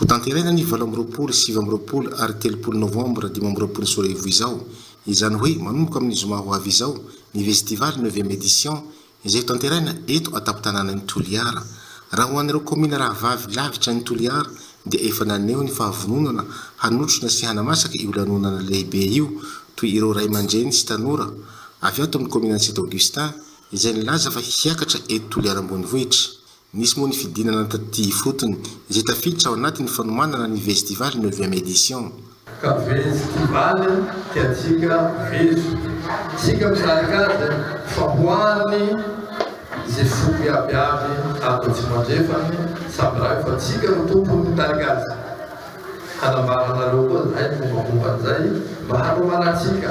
Hotanterahina ny valo amby roapolo, sivy amby roapolo ary telopolo novambra dimy amby roapolo sy roa arivo izao, izany hoe manomboka amin'ny zoma ho avy izao, ny Vestival neuvième édition izay hotanterahina eto an-tampon-tanànan'i Toliara. Raha ho an'ireo kaominina rahavavy lavitra an'i Toliara dia efa naneho ny fahavononana hanotrona sy hanamasaka io lanonana lehibe io toy ireo ray aman-dreny sy tanora avy ato amin'ny kaominan'i Saint Augustin, izay nilaza fa hiakatra eto Toliara ambonivohitra. Nisy moa ny fidinana taty ifotony, izay tafiditra ao anatin'ny fanomanana ny Vestival neuvième édition. Ka vestival tiantsika vezo. Tsika mikarakara fa ho an'ny izay foko iaby avy ato Atsimo Andrefana, samy raha io fa tsika no tompony mikarakaza. Hanambara anareo koa zahay ny mombamomba an'izay mba hanomanantsika.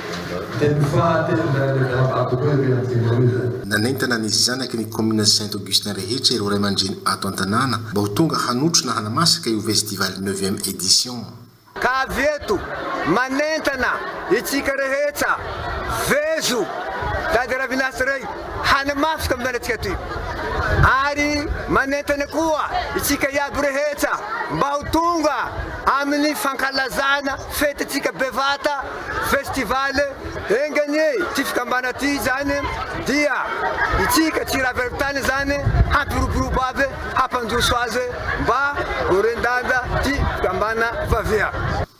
Teny faha telo indray ilay Garabado koa ery Anjinoro izay. Nanentana ny zanaky ny kaominina Saint Augustin rehetra ireo raiamandreny ato an-tanàna mba ho tonga hanotrona hanamasaka io vestival neuvième édition. Ka avy eto manentana itsika rehetra vezo tady Ravinasa rey hanamafika amin'ny lalantsika atoy. Ary manentana koa itsika iaby rehetra mba ho tonga amin'ny fankalazana fetintsika bevata. festival enga anie ity fikambana ity izany dia itsika tsy raha avy any tany izany hampiroborobo avy hampandroso azy mba ho ren-danja ity fikambana vavia.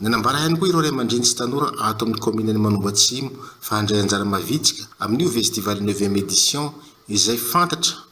Nanambara ihany koa ireo ray aman-dreny sy tanora ato amin'ny kaominin'i Manombo Atsimo fa handray anjara mavitrika amin'io vestival neuvième édition izay fantatra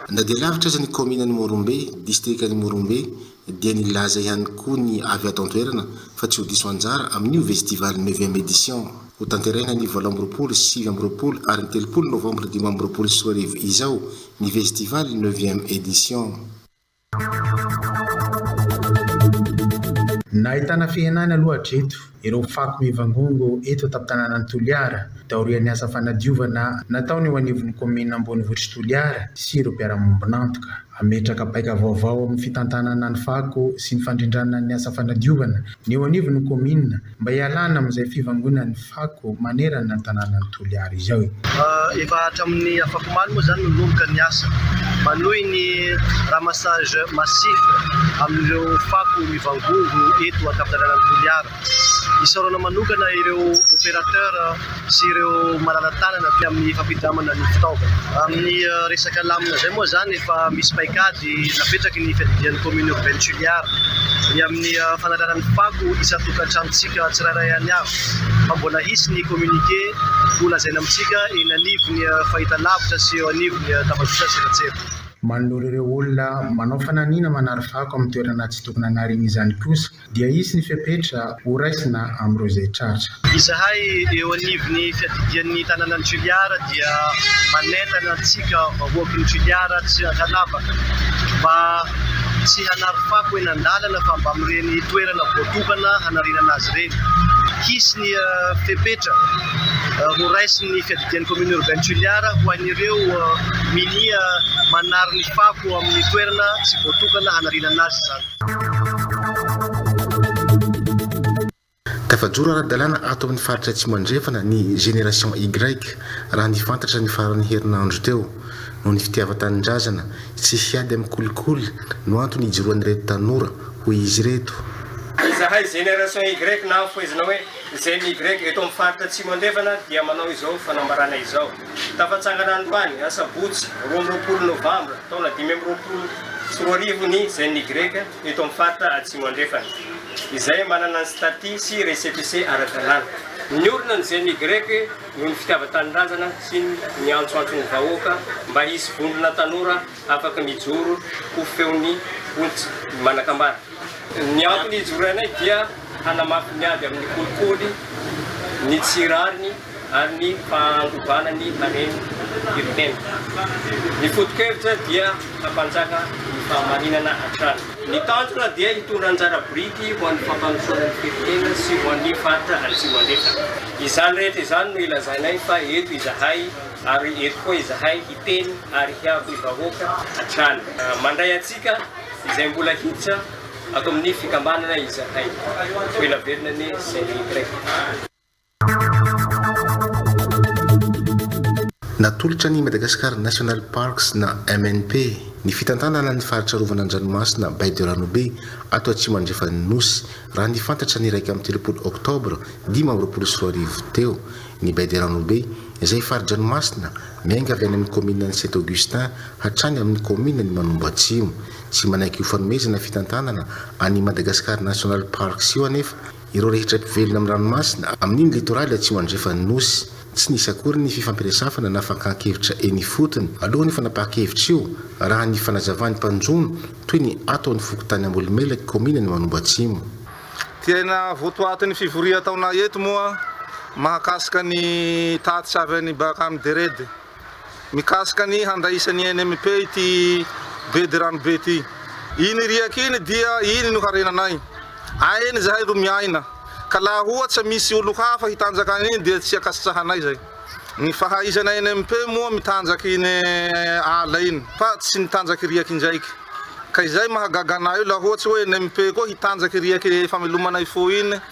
Na dia lavitra aza ny kaominan'i Morombe, distrikan'i Morombe, dia nilaza ihany koa ny avy ato an-toerana fa tsy ho diso anjara amin'io vestival neuvième édition ho tanterahina ny valo amby roapolo, sivy amby roapolo ary ny telopolo novambra dimy amby roapolo sy roa arivo izao ny vestival neuvième édition. Nahitana fihenany aloha hatreto Ireo fako mivangongo eto an-tampon-tanànan'i Toliara dia aorian'ny asa fanadiovana nataony eo anivon'ny kaominina ambonivohitr'i Toliara sy ireo mpiara-miombon'antoka. Hametraka paika vaovao amin'ny fitantanana ny fako sy ny fandrindràna ny asa fanadiovana ny eo anivon'ny kaominina mba hialàna amin'izay fivangonan'ny fako manerana ny tanànan'i Toliara izao e! Efa hatramin'ny afakomaly moa izany no ninomboka ny asa manohy ny ramassage massif amin'ireo fako mivangongo eto an-tampon-dalanan' ny Toliara. Isaorana manokana ireo opérateur sy ireo malala-tanana aty amin'ny fampindramana ny fitaovana. Amin'ny resaka lamina izay moa izany efa misy paikady napetraky ny fiadidian'ny commune urbaine Tuliara ny amin'ny fanalana ny fako isan-tokantranontsika tsirairay any avy. fa mbola hisy ny communiqué ho lazaina amintsika eny anivon'ny fahitalavitra sy eo anivon'ny tambajotra an-tserasera. Manoloana ireo olona manao fananina manary fako amin'ny toerana tsy tokony hanariny izany kosa dia hisy ny fepetra ho raisina amin'ireo izay tratra. Izahay eo anivon'ny fiadidian'ny tanànan'i Toliara dia manentana antsika vahoakin'i Toliara sy Antanavaka mba tsy hanary fako eny an-dalana fa mba amin'ireny toerana voatokana hanarenana azy ireny. Anaty Reny. Hisy ny fepetra horaisin'ny fiadidian'ny Commune Urbaine Toliara ho an'ireo minia manary ny fako amin'ny toerana tsy voatokana hanarenana azy izany. Tafajoro ara-dalàna ato amin'ny faritra Atsimo Andrefana ny Génération Y, raha ny fantatra ny faran'ny herinandro teo. noho ny fitiavan-tanindrazana, tsy hiady amin'ny kolikoly no antony ijoroan'ireto tanora, hoy izy ireto. Izahay Génération Y na ampoizina hoe Gen Y eto amin'ny faritra Atsimo Andrefana dia manao izao fanambarana izao. Tafatsangana androany, asabotsy roa amby roapolo novambra, taona dimy amby roapolo sy roa arivo ny Gen Y eto amin'ny faritra Atsimo Andrefana, izay manana ny staty sy récépissé ara-dalàna. Niorina ny Gen Y. noho ny fitiavan-tanindrazana sy ny niantsoantso ny vahoaka mba hisy vondrona tanora afaka mijoro ho feon'ny olon-tsy manan-kambara. Ny antony hijoroanay dia hanamafy ny ady amin'ny kolikoly, ny tsy rariny ary ny fahangovana ny haren'ny firenena. Ny foto-kevitra dia hampanjaka ny fahamarinana hatrany. Ny tanjona dia hitondra anjara biriky ho an'ny fampandrosoana ny firenena sy ho an'ny faritra Atsimo Andrefa. Izany rehetra izany no ilazainay fa eto izahay ary eto koa izahay hiteny ary hiabo ny vahoaka hatrany. Mandray antsika izay mbola hiditra ato amin'ny fikambanana izahay. Ho ela velona anie Saint Louis Grec. Natolotra ny Madagascar National Parks na MNP ny fitantanana ny faritra arovana an-dranomasina Baie de Ranobe ato atsimo andrefan'ny Nosy, raha ny fantatra ny iraika amby telopolo oktobra dimy amby roapolo sy roa arivo teo. Ny Baie de Ranobe izay fari-dranomasina miainga avy any amin'ny kaomininan'i Saint Augustin hatrany amin'ny kaomininan'i Manombo Atsimo. Tsy manaiky ho fanomezana fitantanana an'io Madagascar National Parks io anefa Ireo rehetra mpivelona amin'ny ranomasina, amin'iny litoraly atsimo andrefan'ny Nosy. Tsy nisy akory ny fifampiresafana na fankahan-kevitra eny ifotony, alohan'io fanapahan-kevitra io, raha ny fanazavan'ny mpanjono, toy ny ato amin'ny fokontany Ambohimelaky, kaominina Manombo Atsimo. Tena votoaty ny fivorian-taona eto moa mahakasika ny tatitra avy any Baka Mderede. Mikasika ny handraisan'ny NMP ity bedy ranobe ity. Iny riaka iny dia iny no harenanay. Ainy izahay ro miaina. Ka laha ohatsa misy olo hafa hitanjaka an'iny dia tsy akasitrahanay zay. Ny fahaizana NMP moa mitanjaka iny ala iny fa tsy mitanjaka riaka indraiky. Ka izay mahagaga anay io laha ohatsa hoe NMP koa hitanjaka riaka famelomana ifo iny.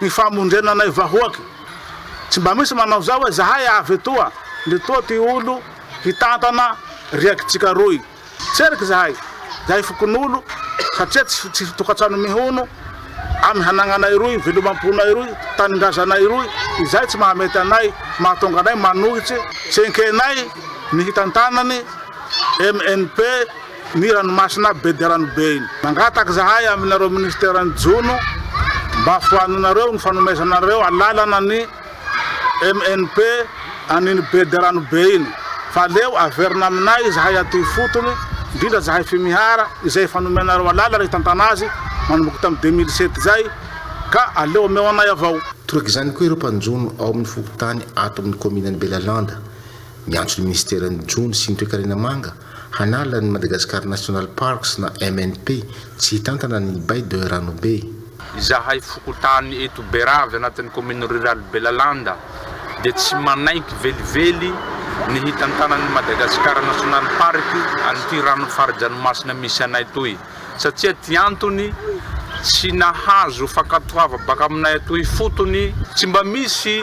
Ny famonjena anay vahoaky. Tsy mba misy manao zao hoe zahay avy etoa ndry toa ty olo hitantana riakitsika roy. Tseriky zahay, zahay fokonolo satria tsy tsy tokatrano mihono amy hanagnanay roy, velomamponay roy, tanindrazanay roy, izay tsy mahamety anay mahatonga anay manohitse tsy enkenay ny hitantanany MNP. ny ranomasina be dia ranobe iny. Mangataka izahay aminareo Ministeran'ny Jono mba foanonareo ny fanomezanareo alalana ny MNP an'iny be dia ranobe iny fa aleo averina aminay izahay aty ifotony indrindra izahay Fimihara izay efa nomenareo alalana hitantana azy manomboka tamin'ny deux mille sept izay ka aleo omeo anay avao. Toroka izany koa ireo mpanjono ao amin'ny fokontany ato amin'ny kaominan'i Belalanda miantso ny Ministeran'ny Jono sy ny Toekarena Manga Hanala ny Madagascar National Parks na MNP, tsy hitantana ny Baie de Ranobe. Izahay fokontany eto Berave anatin'ny commune rurale Belalanda dia tsy manaiky velively ny hitantanan'ny Madagascar National Park an'ity ranon'ny fari-dranomasina misy anay toy satsia ty antony tsy nahazo fankatoava baka aminay atoy ifotony tsy mba misy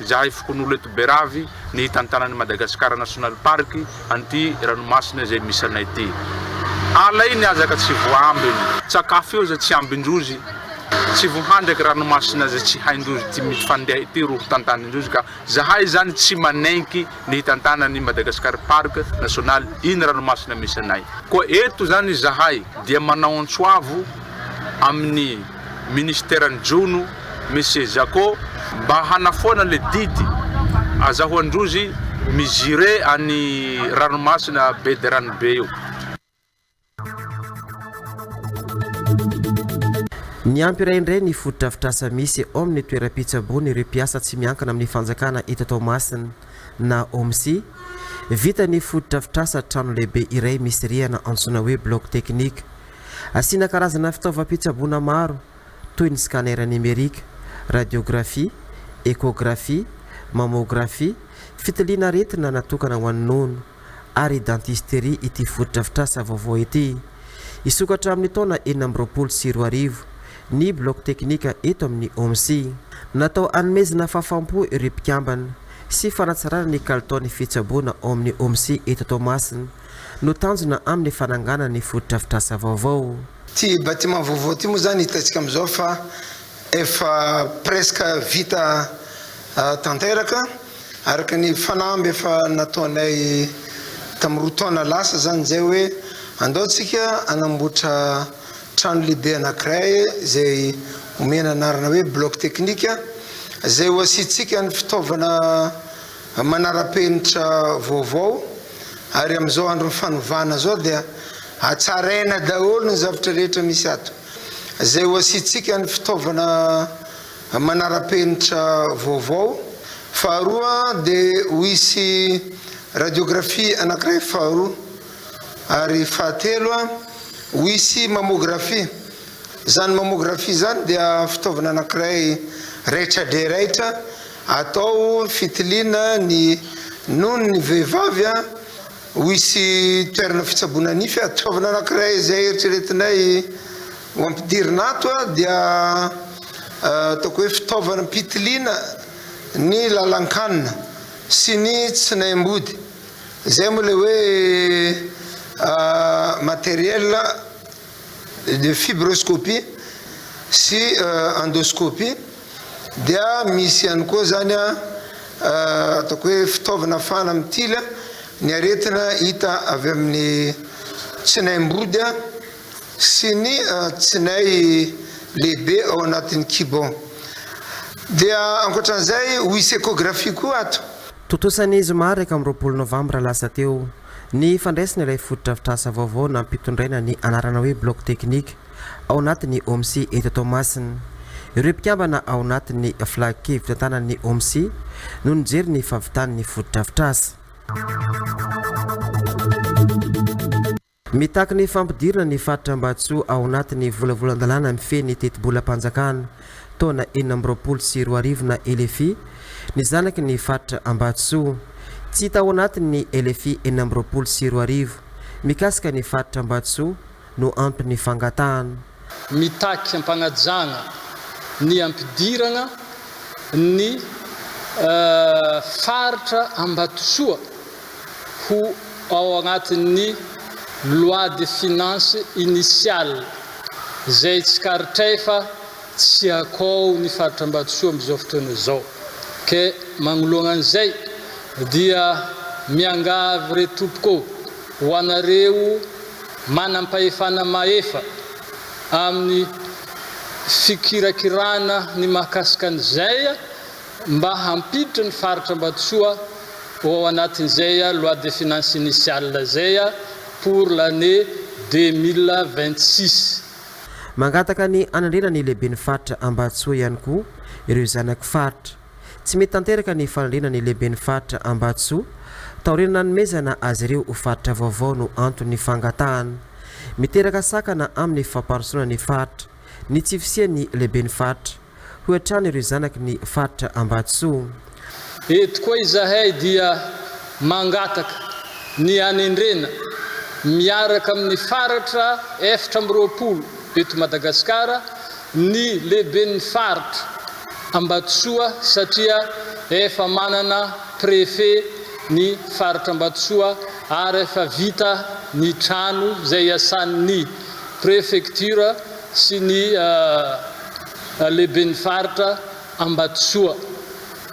Izahay fokonolona eto Beravy ny hitantanan'i Madagascar National Park an'ity ranomasina izay misy anay ity. Ala io ny hazaka tsy voaambiny. Tsakafo eo izay tsy ambin-drozy. Tsy voahandraky ranomasina izay tsy hain-drozy ity mifandeha ity roa hitantanin-drozy ka izahay izany tsy manenky ny hitantanan'i Madagascar Park National iny ranomasina misy anay. Koa eto izany izahay dia manao antsoavo amin'ny. Ministeran'ny Jono, Monsieur Jacko, mba hanafoana le didy azahoan-drozy mi-gire any ranomasina be de rano be io. Miampy iray indray ny fotodrafitrasa misy eo amin'ny toeram-pitsaboana ireo mpiasa tsy miankina amin'ny fanjakana eto Toamasina na OMSI. Vita ny fotodrafitrasa trano lehibe iray misy rihana antsoina hoe Bloc Technique. Asiana karazana fitaovam-pitsaboana maro toy ny scanner nimerika, radiografia, échographie, mammografie, fitiliana aretina natokana ho an'ny nono ary dentisterie ity fotodrafitrasa vaovao ity. Hisokatra hatramin'ny taona enina amby roapolo sy roa arivo ny bloc teknika eto amin'ny OMSI. Natao hanomezana fahafaham-po ireo mpikambana sy fanatsarana ny kalitaon'ny fitsaboana ao amin'ny OMSI eto Toamasina no tanjona amin'ny fananganana ny fotodrafitrasa vaovao. Ity bâtiment vaovao ity moa izany hitantsika amin'izao fa efa presque vita tanteraka araka ny fanamby efa nataonay tamin'ny roa taona lasa izany izay hoe andao tsika hanamboatra trano lehibe anankiray izay omena anarana hoe bloc technique izay ho asiantsika ny fitaovana Amin'ny manara-penitra vaovao ary amin'izao andron'ny fanovana izao dia hatsaraina daholo ny zavatra rehetra misy ato. Izay ho asiantsika ny fitaovana manara-penitra vaovao. Faharoa dia ho hisy radiographie anankiray faharoa. Ary fahatelo, ho hisy mammographie. Izany mammographie izany dia fitaovana anankiray raitra dia raitra. Atao fitiliana ny nono ny vehivavy a! Ho hisy toerana fitsaboana nify ato. Fitaovana anankiray izay eritreretinay ho ampidirina ato a, dia ataoko hoe fitaovana am-pitiliana ny lalan-kanina sy ny tsinaim-body. Izay moa ilay hoe matériel de fibroscopie sy endoscopie dia misy ihany koa zany a ataoko hoe fitaovana afahana mitily ny aretina hita avy amin'ny tsinaim-body a sy ny tsinay lehibe ao anatin'ny kibo dia ankoatran'izay ho hisy echographie koa ato. Tontosa ny zoma iraika amby roapolo novambra lasa teo. Ny fandraisana ilay fotodrafitrasa vaovao nampitondraina ny anarana hoe Bloc Technique ao anatin'ny OMCI eto Toamasina. Ireo mpikambana ao anatin'ny Flac fitantanan'ny OMCI no nijery ny fahavitan'ny fotodrafitrasa. Mitaky ny fampidirana ny faritra Ambato ao anatin'ny volavolan-dalàna mifehy ny tetibolam-panjakana. taona enina amby roapolo sy roa arivo na LFI, ny zanaky ny faritra Ambatosoa. Tsy hita ao anatin'ny LFI enina amby roapolo sy roa arivo mikasika ny faritra Ambatosoa no anton'ny fangatahana. Mitaky ampanajana ny ampidirana ny faritra Ambatosoa. ho ao anatin'ny loi de finances initiale izay tsikaritra efa tsy akao ny faritra Ambatosoa amin'izao fotoana izao ka magnoloana an'izay dia miangavy re tompoko ho anareo manam-pahefana mahefa amin'ny fikirakirana ny mahakasika an'izay mba hampiditra ny faritra Ambatosoa ho ao anatin'izay loi de finances initiale izay pour l'année deux mille vingt-six. Mangataka ny hanandrena ny lehiben'ny faritra Ambatosoa ihany koa ireo zanaky faritra. Tsy mety tanteraka ny fanandrena ny lehiben'ny faritra Ambatosoa taorian'ny nanomezana azy ireo ho faritra vaovao no anton'ny fangatahana. Miteraka sakana amin'ny famparosoana ny faritra ny tsy fisian'ny lehiben'ny faritra. Hoy hatrany ireo zanaky ny faritra Ambatosoa. Eto koa izahay dia mangataka ny hanendrena miaraka amin'ny faratra eftra amby roapolo eto Madagasikara ny lehiben'ny faritra Ambatosoa satria efa manana préfet ny faritra Ambatosoa ary efa vita ny trano izay iasan'ny préfecture sy ny Lehiben'ny Faritra Ambatosoa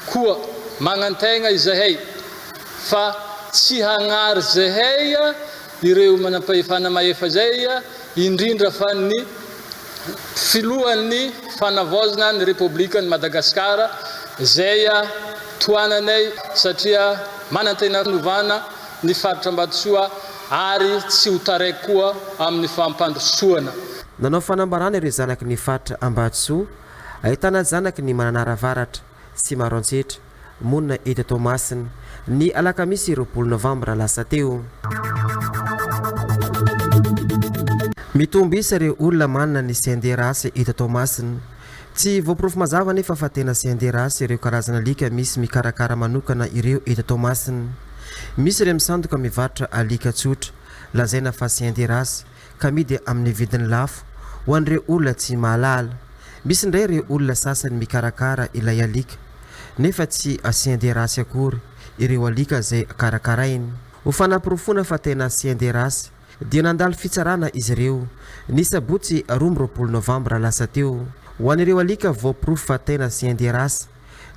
koa magnantegna izahay fa tsy hagnary izahay ireo manampahefana mahefa izay, indrindra fa ny Filohan'ny Fanavaozana ny Repoblikan'i Madagasikara izay tohananay satria manantena novana ny faritra Ambatosoa ary tsy ho taraiky koa amin'ny fampandrosoana. Nanao fanambarana ireo zanaky ny faritra Ambatosoa, ahitana zanaky ny Mananara Avaratra sy Maroantsetra, monina eto Toamasina, ny alakamisy roapolo novambra lasa teo. Mitombo isa ireo olona manana ny CNDRH eto Toamasina, Tsy voaporofo mazava anefa fa tena CNDRH ireo karazana alika misy mikarakara manokana ireo eto Toamasina. Misy ireo misandoka mivarotra alika tsotra, lazaina fa CNDRH, ka amidy amin'ny vidiny lafo, ho an'ireo olona tsy mahalala. Misy indray ireo olona sasany mikarakara ilay alika, nefa tsy CNDRH akory ireo alika izay karakarainy. Ho fanaporofoana fa tena CNDRH, dia nandalo fitsarana izy ireo, ny sabotsy roa amby roapolo novambra lasa teo. Ho an'ireo alika voaporofo fa tena chien de race,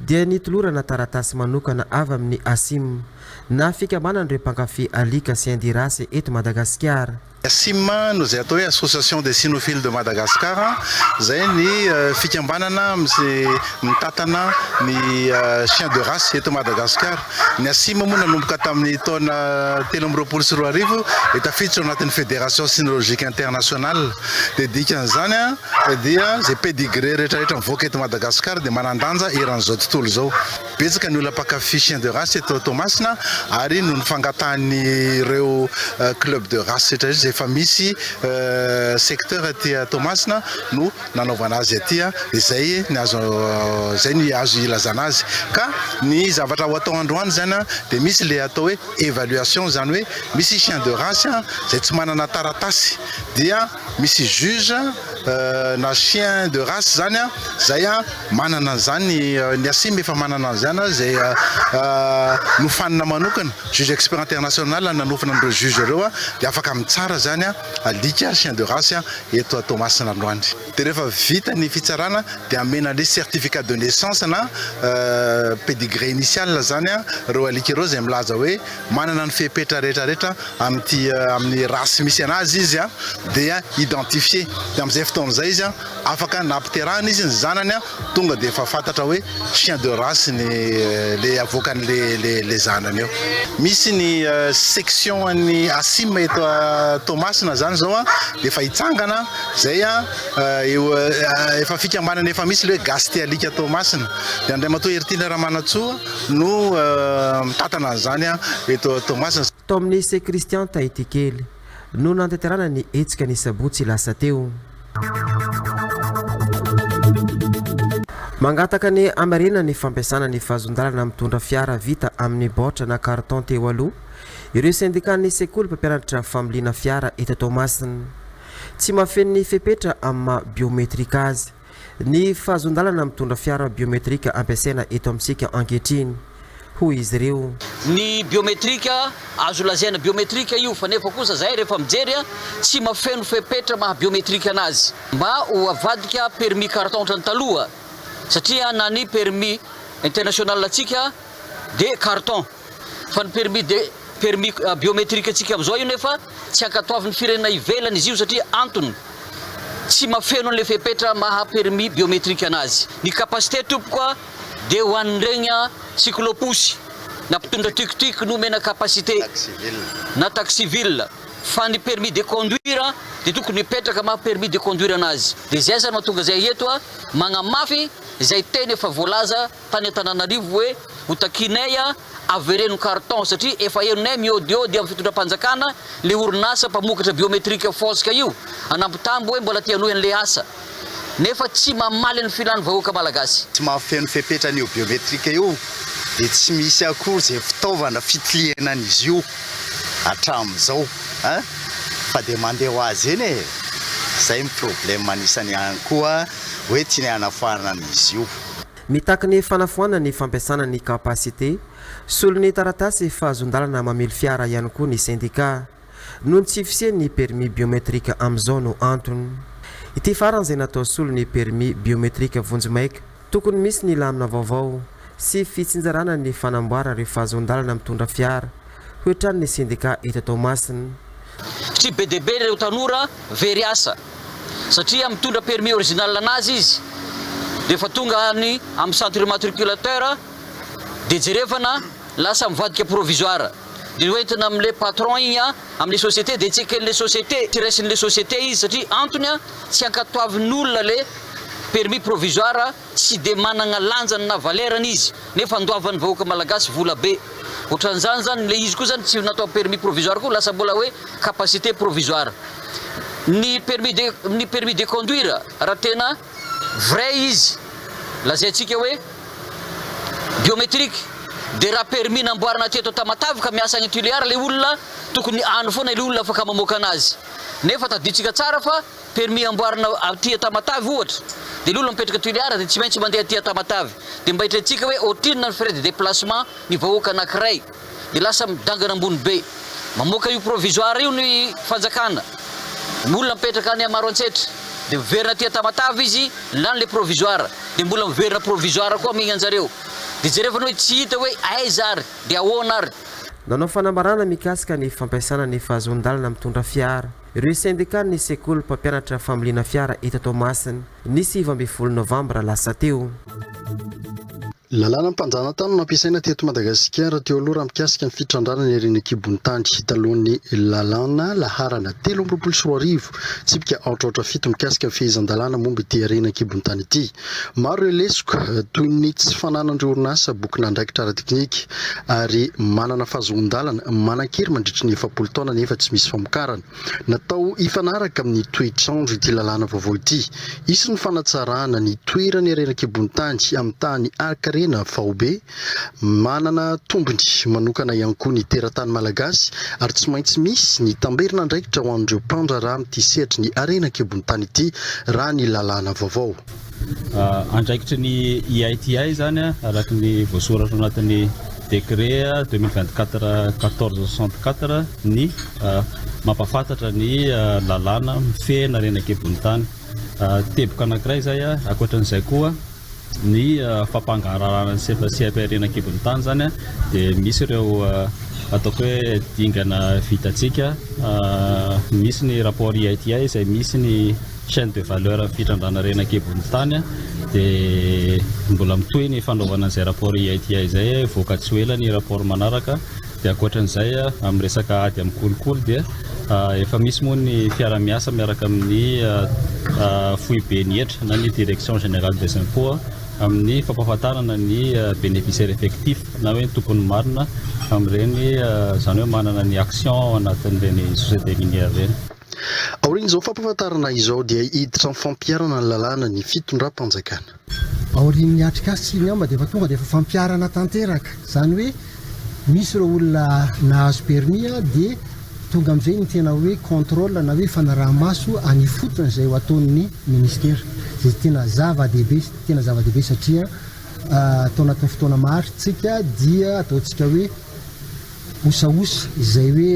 dia nitolorana taratasy manokana avy amin'ny ACIM, na fikambanan'ireo mpankafy alika chien de race eto Madagasikara. Ny ACIM no izay atao hoe Association des Cynophiles de Madagascar, izay ny fikambanana mitantana ny chien de race eto Madagasikara. Ny Asimo moa nanomboka tamin'ny taona telo amby roapolo sy roa arivo dia tafiditra ao anatin'ny Fédération Sinologique Internationale. Dia dikan'izany dia izay pedigree rehetrarehetra mivoaka eto Madagasikara dia manan-danja eran'izao tontolo izao. Betsaka ny olona mpankafy chien de race eto Toamasina ary noho ny fangatahan'ireo club de race rehetrarehetra izay efa misy secteur aty Toamasina no nanaovana azy aty a, izay ny azo izay ny azo ilazana azy ka ny zavatra ho atao androany zany a dia misy le atao hoe évaluation zany hoe misy chien de race a izay tsy manana taratasy dia misy juge na chien de race zany a izay a manana an'izany ny asim efa manana an'izany a izay nofanina manokana juge expert international nanofana an'ireo juge ireo a dia afaka mitsara zany a alika, chien de race, eto à Toamasina androany. Dia rehefa vita ny fitsarana dia amena an'ilay certificat de naissance na pedigree initial izany ireo alika ireo izay milaza hoe manana ny fepetra rehetra rehetra amin'ity amin'ny race misy an'azy izy dia identifier dia amin'izay fotoana izay izy afaka na ampiterahana izy ny zanany Tonga dia efa fantatra hoe chien de race ny le avoakany le le le zanany eo. Misy ny section an'ny Asim eto Toamasina zany zao a, efa hitsangana zay a, eo efa fikambanana efa misy le hoe gasy te alika Toamasina, de Andriamatoa Heritily Ramanantsoa no mitantana an'izany a eto Toamasina. Tao amin'ny Lycée Christian Tahitikely no nantanterahana ny hetsika ny sabotsy lasa teo. Mangataka ny hamarenana ny fampiasana ny vazon-dalana mitondra fiara vita amin'ny baoritra na carton teo aloha ireo sendikan'ny sekoly mpampianatra familiana fiara eto Toamasina. Tsy mahafeno ny fepetra amin'ny maha biometrique azy. Ny fahazoan-dalana mitondra fiara biometrika ampiasaina eto amintsika ankehitriny, hoy izy ireo. Ny biometrika, azo lazaina biometrika io, fa nefa kosa zahay rehefa mijery a, tsy mafeno fepetra maha biometrika anazy. Mba ho avadika permis carton ohatran'ny taloha, satria na ny permis international antsika dia carton. Fa ny permis de permis biometrique antsika amin'izao io nefa tsy ankatoavin'ny firenena ivelany izy io satria antony tsy mafeno an'ilay fepetra maha permis biometrique anazy. Ny capacité tompoko a dia ho an'ireny a cyclo-pousse na mpitondra tuk-tuk no omena capacité na taxi-ville fa ny permis de conduire a dia tokony hipetraka maha permis de conduire anazy. Dia izay aza no mahatonga izay eto a magnamafy izay teny efa voalaza tany Antananarivo hoe hotakianay a, avereno carton satria efa henonay miôdiôdy amin'ny fitondram-panjakana le orinasa mpamokatra biometrique fôsika io anampitambo hoe mbola te hanohy an'le asa nefa tsy mamaly ny filan'ny vahoaka malagasy. Tsy mahafeno fepetra an'io biometrique io dia tsy misy akory izay fitaovana fitlihena an'izy io hatramin'izao a, fa dia mandeha ho azy eny e, izay ny problème anisany ihany koa hoe tianay hanafahana an'izy io. Mitaky ny fanafoanana ny fampiasana ny capacité solon'ny taratasy fahazoan-dalana mamily fiara ihany koa ny sendika. Noho ny tsy fisian'ny permis biometrique amin'izao no antony. Ity farany izay natao solon'ny permis biometrique vonjimaika. Tokony misy ny lamina vaovao sy fitsinjarana ny fanamboara ireo fahazoan-dalana mitondra fiara. Hoy hatrany ny sendika eto Toamasina. Tsy be dia be ireo tanora very asa satria mitondra permis original anazy izy dia efa tonga any amin'ny centre immatriculateur dia jerevana lasa mivadika provisoire dia hoentina amin'ilay patron iny amin'ilay société dia tseken'ilay société tsy raisin'ilay société izy satria antony tsy ankatoavin'ny olona ilay permis provisoire Tsy dia managna lanjany na valera-ny izy nefa andoavan'ny vahoaka malagasy vola be. Otran'izany zany le izy koa zany tsy natao permis provisoire koa lasa mbola hoe capacité provisoire. Ny permis de ny permis de conduire raha tena vrai izy lazaintsika hoe biométrique de raha permis namboarina teto Tamatave ka miasa any Tuléar le olona tokony any foana le olona afaka mamoaka anazy. Nefa tadidintsika tsara fa. permis amboarina aty Tamatave ohatra de le olona mipetraka Tuléar de tsy maintsy mandeha aty Tamatave de mba hitrentsika hoe otrinona ny frais de déplacement ny vahoaka anakiray de lasa midangana ambony be mamoaka io provisoire io ny fanjakana ny olona mipetraka any Maroantsetra de miverina aty Tamatave izy lany le provisoire de mbola miverina provisoire koa migna anjareo de jereo fa ny hoe tsy hita hoe aiza ary de ahoana ary. Nanao fanambarana mikasika ny fampiasana ny fahazoan-dalana mitondra fiara. Ireo sendikan'ny sekoly mpampianatra familiana fiara eto Toamasina, ny sivy ambin'ny folo novambra lasa teo. Lalàna mpanjanatany no nampiasaina teto Madagasikara teo aloha raha mikasika ny fitrandrana ny harena an-kibon'ny tany, talohan'ny lalàna laharana telo amby roapolo sy roa arivo, tsipika aotraotra fito mikasika ny fehezan-dalàna momba ity harena an-kibon'ny tany ity. Maro ireo lesoka, toy ny tsy fananan'ireo orinasa bokin'andraikitra ara-teknika, ary manana fahazoan-dalana manan-kery mandritry ny efapolo taona nefa tsy misy famokarana. Natao hifanaraka amin'ny toetr'andro ity lalàna vaovao ity. Hisy ny fanatsarana ny toerany ery an-kibon'ny tany amin'ny tahan'ny Arc Arena faobe, Manana tombony manokana ihany koa ny teratany malagasy ary tsy maintsy misy ny tamberin'andraikitra ho an'ireo mpandraharaha amin'ity sehatry ny harena an-kibon'ny-tany ity, raha ny lalàna vaovao. Andraikitry ny IITI izany araka ny voasoratra ao anatin'ny décret deux mille vingt quatre quatorze soixante quatre ny mampahafantatra ny lalàna mifehy ny harena an-kibon'ny-tany. Teboka anankiray izay, ankoatra an'izay koa. ny fampangaharahana ny sefa seha-pihariana an-kibon'ny tany izany dia misy ireo ataoko hoe dingana vitantsika misy ny rapport IITI izay misy ny chaîne de valeur amin'ny fitrandrana harena an-kibon'ny tany dia mbola mitohy ny fanaovana izay rapport IITI izay hivoaka tsy ho ela ny rapport manaraka Dia ankoatran'izay, amin'ny resaka ady amin'ny kolikoly dia efa misy moa ny fiara-miasa miaraka amin'ny foiben'ny hetra na ny Direction Générale des Impôts amin'ny fampahafantarana ny bénéficiaires effectifs na hoe ny tompony marina amin'ireny, izany hoe manana ny actions ao anatin'ireny sociétés minières ireny. Aorian'izao fampahafantarana izao dia hiditra amin'ny fampiharana ny lalàna ny fitondram-panjakana. Aorian'ny atrikasa sy ny amba dia efa tonga dia efa fampiharana tanteraka, izany hoe misy ireo olona nahazo permis dia tonga amin'izay ny tena hoe contrôle na hoe fanaraha-maso any ifotony izay ho ataon'ny ministera, izay tena zava-dehibe, tena zava-dehibe satria tao anatin'ny fotoana maharitsika dia ataontsika hoe osaosa izay hoe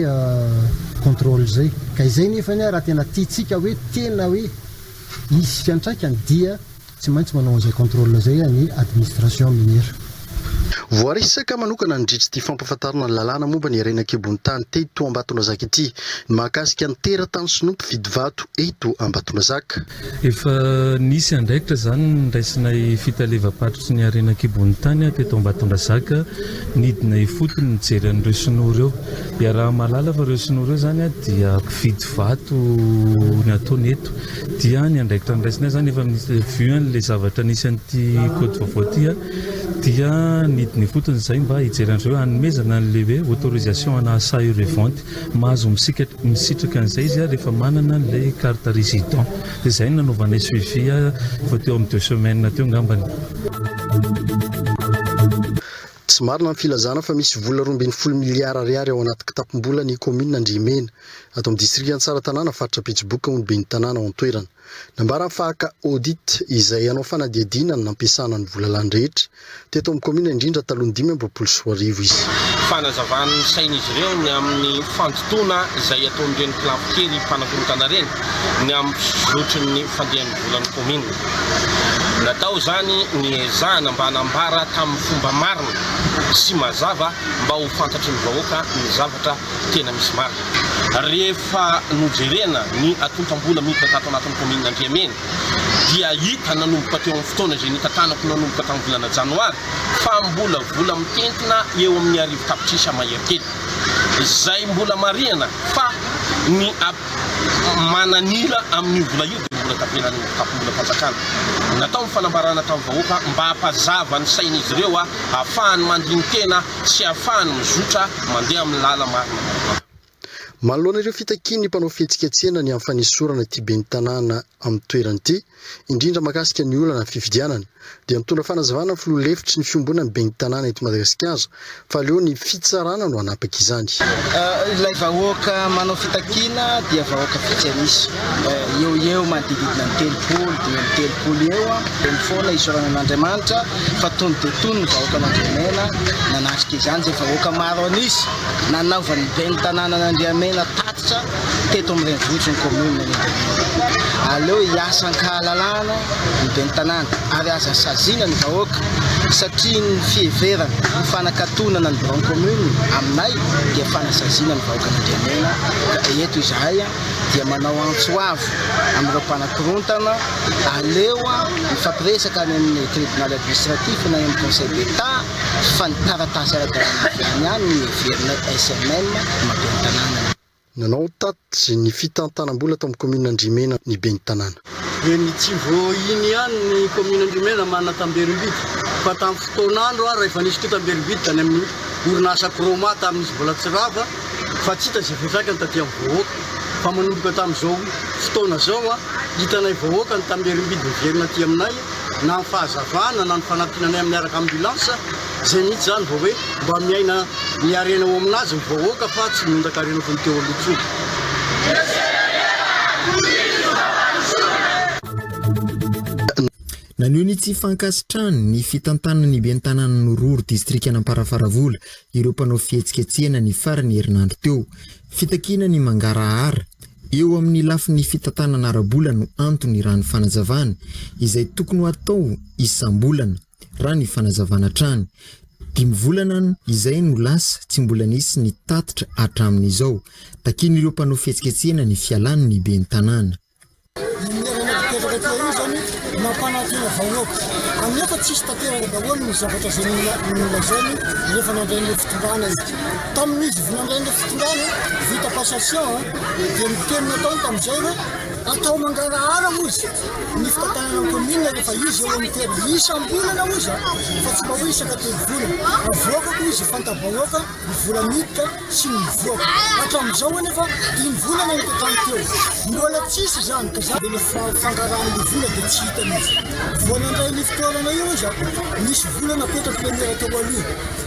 contrôle izay, ka izay nefany raha tena tiantsika hoe tena hoe. Izy fiantraikany dia tsy maintsy manao an'izay contrôle izay ny administration minière. Voaresaka manokana nandritry ity fampafantarana ny lalàna momba ny harena an-kibon'ny tany teto Ambatondrazaka ity ny mahakasika ny teratany sinoa mpividy vato eto Ambatondrazaka. Efa nisy andraikitra izany niraisinay fitalevam-paritry ny harena an-kibon'ny tany teto Ambatondrazaka, nidina ifotony nijery an'ireo sinoa ireo. Dia raha mahalala fa ireo sinoa ireo zany dia mpividy vato ny ataony eto dia ny andraikitra andraisany azy zany efa misy vue anle zavatra nisy an'ity code vaovao ity dia nidiny ifotony zay mba hijery an'zay hoe hanomezana an'le hoe autorisation ana achat et revente mahazo misitraka an'zay izy ary efa manana an'ilay carte resident dia zay no nanaovanay suivi vao teo amin'ny deux semaines teo ngambany. Tsy marina ny filazana fa misy vola roa ambin'ny folo miliara ariary ao anaty kitapom-bola ny kaominina Andriamena, ato amin'ny distrika Antsaratanàna, faritra Betsiboka, hoy ny ben'ny tanàna ao an-toerana. Nambarany fa haka audit izay hanao fanadihadiana ny nampiasana ny vola lany rehetra, teto amin'ny kaominina indrindra talohan'ny dimy amby roapolo sy roa arivo, izy. Fanazavana ny sain'izy ireo ny amin'ny fandotoana izay ataon'ireny kilabokely mpanakorontana ireny ny amin'ny fizotry ny fandehan'ny volan'ny kaominina. Natao izany ny hiezahana mba hanambara tamin'ny fomba marina sy mazava mba ho fantatry ny vahoaka ny zavatra tena misy marina. Rehefa nojerena ny antontam-bola miditra tato anatin'ny kaominina Andriamena dia hita nanomboka teo amin'ny fotoana izay nitantanako nanomboka tamin'ny volana janoary fa mbola vola mitentina eo amin'ny arivo tapitrisa mahery telo izay mbola marihana fa ny mananila amin'io vola io dia ny vola tapenan'ny takombolam-panjakana. Natao ny fanambarana tamin'ny vahoaka mba hampazava ny sain'izy ireo hahafahany mandini-tena sy hahafahany mizotra mandeha amin'ny lala marina vaovao. Manoloana ireo fitakian'ny mpanao fihetsiketsehana ny amin'ny fanesorana ity ben'ny tanàna amin'ny toerana ity, indrindra mahakasika ny olana fifidianana, dia nitondra fanazavana ny filoha lefitry ny fiombonan'ny ben'ny tanàna eto Madagasikara fa aleo ny fitsarana no hanapaka izany. Ilay vahoaka manao fitakiana dia vahoaka vitsy an'isa, eo ho eo manodididna ny telopolo, dimy amby telopolo eo, dia ny foana isaorana an'Andriamanitra fa tony dia tony ny vahoaka Mandriamena nanatrika izany izay vahoaka maro an'isa nanaovan'ny ben'ny tanànan'Andriamena tatitra. teto amin'ny renivohitry ny kaominina ny Antanimora. Aleo hiasa an-kahalalahana ny ben'ny tanàna ary aza saziana ny vahoaka satria ny fiheverana ho fanakatonana ny biraon'ny kaominina aminay dia fanasaziana ny vahoakan'Andriamena ka eto izahay dia manao antso avo amin'ireo mpanakorontana aleo mifampiresaka any amin'ny tribonaly administratif na eny amin'ny Conseil d'Etat fa ny taratasy ara-dalàna avy any aminy no heverinay SMM maben'ny tanàna. Nanao tatitra ny fitantanam-bola tao amin'ny kaominina Andriamena ny ben'ny tanàna. Eny Tsivohiny ihany ny kaominina Andriamena manana tamberim-bidy fa tamin'ny fotoan'andro ary efa nisy koa tamberim-bidy tany amin'ny orinasa Chroma tamin'ny izy mbola tsy rava fa tsy hita izay fiantraikany taty amin'ny vahoaka fa manomboka tamin'izao fotoana izao hitanay vahoaka ny tamberim-bidy miverina aty aminay na ny fahazavana na ny fanampiana anay miaraka amin'ny ambulance izay mihitsy izany vao hoe mba miaina ny harena ao aminazy ny vahoaka fa tsy miondaka harena toy ny teo aloha intsony. Naneho ny tsy fankasitrahany ny fitantanan'ny ben'ny tanànan'i Roro distrikan'Amparafaravola ireo mpanao fihetsiketsehana ny faran'ny herinandro teo. Fitakiana ny mangarahara. Eo amin'ny lafiny fitantanana ara-bola no antony raha ny fanazavana, izay tokony ho atao isam-bolana, raha ny fanazavana hatrany. Dimy volana izay no lasa tsy mbola nisy ny tatitra hatramin'izao. Takian'ireo mpanao fihetsiketsehana ny fialany ny ben'ny tanàna. Iny lerana napetraka teo iny izany nampanantena vahoaka anefa tsisy tanteraka daholo ny zavatra izay nolazainy rehefa nandray an'ilay fitondrana izy. Tamin'izy vao nandray ny fitondrana, vita passation, dia ny teny nataony tamin'izay hoe atao mangarahara hoy izy ny fitantanana ny commune rehefa izy eo amin'ny toerana. Isam-bolana hoy izy fa tsy mba hoe isaka telo volana. Avoaka koa izy fanta-bahoaka ny vola miditra sy ny mivoaka. Hatramin'izao anefa dimy volana no tokony teo. Mbola tsisy izany ka za. Ilay fangarahan'ny vola dia tsy hita mihitsy. Vao nandray ny fitoerana io izy, nisy vola napetraky ilay maire teo aloha.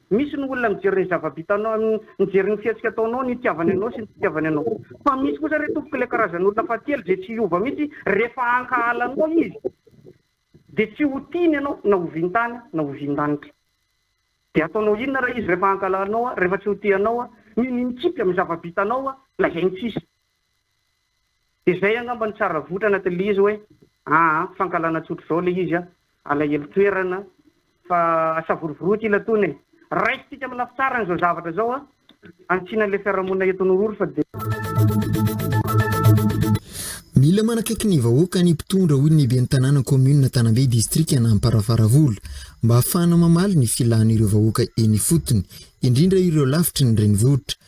Misy ny olona mijery ny zava-bitanao, mijery ny fihetsika ataonao, ny itiavany anao sy ny tsy itiavany anao. Fa misy kosa re tompoko ilay karazan'olona fahatelo izay tsy hiova mihitsy rehefa ankahala anao izy dia tsy ho tiany ianao na ho vintany na ho vindanitra. Dia ataonao inona raha izy rehefa ankahala anao, rehefa tsy ho tia anao, mino mikipy amin'ny zava-bitanao, lazainy tsisy. De izay angamba no tsara votra anaty le izy hoe aa fankahalana tsotra izao le izy an, alahelo toerana fa asavorovoroy ty latoana e! Raisintsika amin'ny lafy tsarany izao zavatra izao an, hanitsiana ilay fiarahamonina eto Anorory fa dia. Mila manakaiky ny vahoaka ny mpitondra hoy ny ben'ny tanàna kaominina Tanambe distrikan' Amparafaravola mba hahafahana mamaly ny filàn'ireo vahoaka eny ifotony, indrindra ireo lavitry ny renivohitra.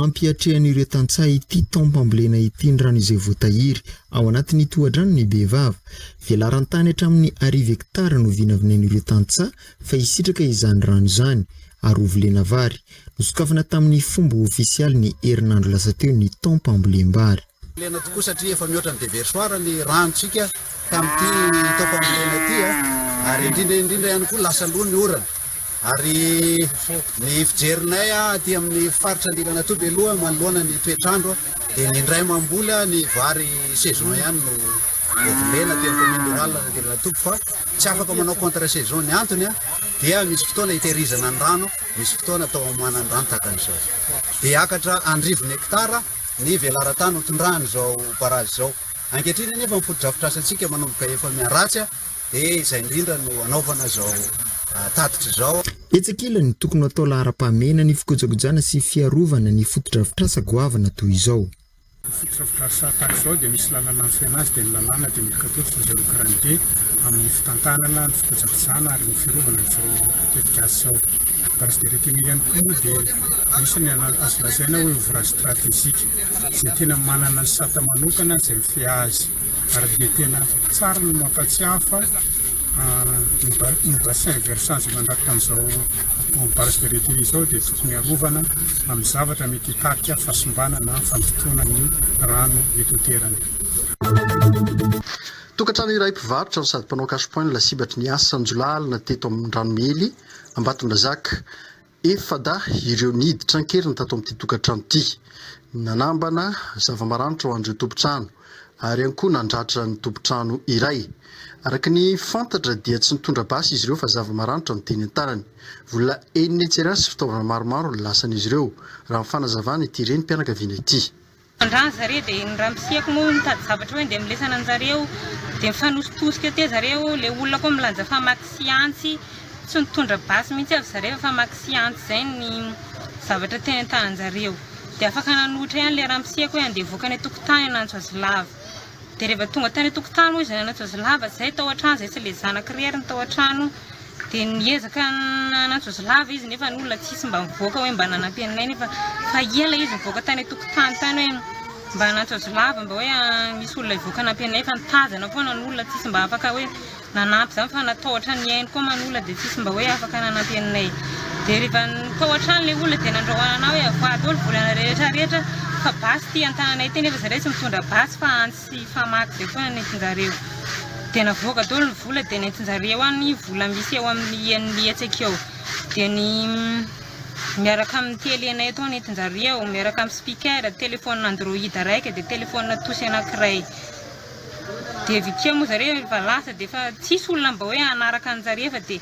Ampiatrehan'ireo tantsaha ity taom-pambolena ity ny rano izay voatahiry ao anatin'ny tohadrano ny Bevava. Velaran-tany hatramin'ny arivo hektara no vinavinain'ireo tantsaha fa hisitraka izany rano izany, ary ho volena vary. Nosokafana tamin'ny fomba ofisialy ny herinandro lasa teo ny taom-pambolem-bary. Fambolena tokoa satria efa mihoatra ny deversoir ny ranontsika tamin'ity tao fambolena ity ary indrindra indrindra ihany koa lasa loha ny orana ary ny fijerinay aty amin'ny faritra Andilanatoa Beloha manoloana ny toetr'andro dia ny indray mamboly ny vary saison ihany no vovolena aty amin'ny commune rurale Andilanatoa fa tsy afaka manao contre saison ny antony dia misy fotoana itehirizana ny rano misy fotoana atao amoanan'ny rano tahaka an'izao dia akatra andrivony hectare ny velaran-tany hotondran'izao barrage izao. Ankehitriny anefa ny fotodrafitrasantsika manomboka efa miharatsy dia izay indrindra no hanaovana izao tatitra izao. Etsy ankilany, tokony ho atao laharam-pahamehana ny fikojakojana sy fiarovana ny fotodrafitrasa goavana toy izao. Ny fotodrafitrasa tahaka izao dia misy lalana mifehy azy, dia ny lalàna dia midika toa tsy voajanahary karanin-dia amin'ny fitantanana ny fikojakojana ary ny fiarovana an'izao tetikasa izao. Base de retenue ihany koa moa dia misy ny azo lazaina hoe ouvrage stratégique izay tena manana ny sata manokana izay mifehy azy ary dia tena tsara ny mampatsiahy fa ny bassin versant mandrakitra an'izao base de retenue izao dia tokony harovana amin'ny zavatra mety hitarika fahasimbana na fandotoana ny rano eto an-toerana. Tokantrano iray mpivarotra no sady mpanao cash point no lasibatry ny asan'jiolahy alina teto amin'ny Ranomely, Ambatondrazaka, efa-dahy ireo niditra an-keriny tato amin'ity tokantrano ity. Nanambana zava-maranitra ho an'ireo tompon-trano ary ihany koa nandratra ny tompon-trano iray. Araka ny fantatra dia tsy nitondra basy izy ireo fa zava-maranitra no teny an-tanany. Vola enina hetsy ariary sy fitaovana maromaro no lasan'izy ireo, raha ny fanazavana ity renim-pianakaviana ity. Mandrà an-dry zareo dia ny ramosiako moa mitady zavatra hoe ndeha milesana an-jareo dia mifanositosika eo teo zareo, ilay olona koa milanja famaky sy antsy, tsy nitondra basy mihitsy aza zareo fa famaky sy antsy izay ny zavatra teny an-tanan-jareo dia afaka nanohitra ihany ilay ramosiako hoe andeha hivoaka any an-tokotany hanantso azy lava. Dia rehefa tonga tany an-tokotany moa izay nanantso azy lava izay tao an-trano izay sy ilay zanaka irery ary ny tao an-trano dia niezaka nanantso azy lava izy nefa ny olona tsisy mba mivoaka hoe mba nanampy anay nefa fa ela izy nivoaka tany an-tokotany tany hoe mba hanantso azy lava mba hoe misy olona hivoaka hanampy anay fa nitazana foana ny olona tsisy mba afaka hoe nanampy izany fa na tao hatrany ny ainy koa man olona dia tsisy mba hoe afaka nanampy anay dia rehefa tao hatrany ilay olona dia nandrahoanana hoe avoaha daholo volana rehetra rehetra fa basy ity an-tananay ity nefa zahay tsy mitondra basy fa antsy sy famaky izay foana no entin-jareo dia navoaka daholo ny vola dia nentin-jareo any vola misy eo amin'ny hian'ny hetsaka eo dia ny miaraka amin'ny telenay atao ny entin-jareo miaraka amin'ny speaker, telephone android raika dia telephone tosy anankiray Dia avy ety moa zareo rehefa lasa dia efa tsisy olona mba hoe hanaraka anjareo fa dia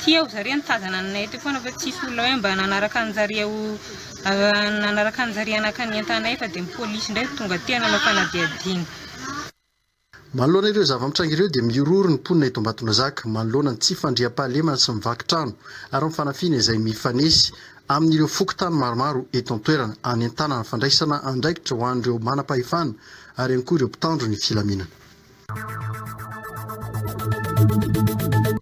tia hoy zareo nitazana anay ety foana fa tsisy olona hoe mba nanaraka anjareo nanaraka anjareo hanakana entanay fa dia ny polisy indray no tonga aty nanao fanadihadiana. Manoloana ireo zava-mitranga ireo dia mihorohoro ny mponina eto Ambatonazaka manoloana ny tsy fandriampahalemana sy ny vaky trano ary ny fanafihana izay mifanesy amin'ireo fokontany maromaro eto an-toerana hanentanana fandraisana andraikitra ho an'ireo manam-pahefana ary ihany koa ireo mpitandro ny filaminana.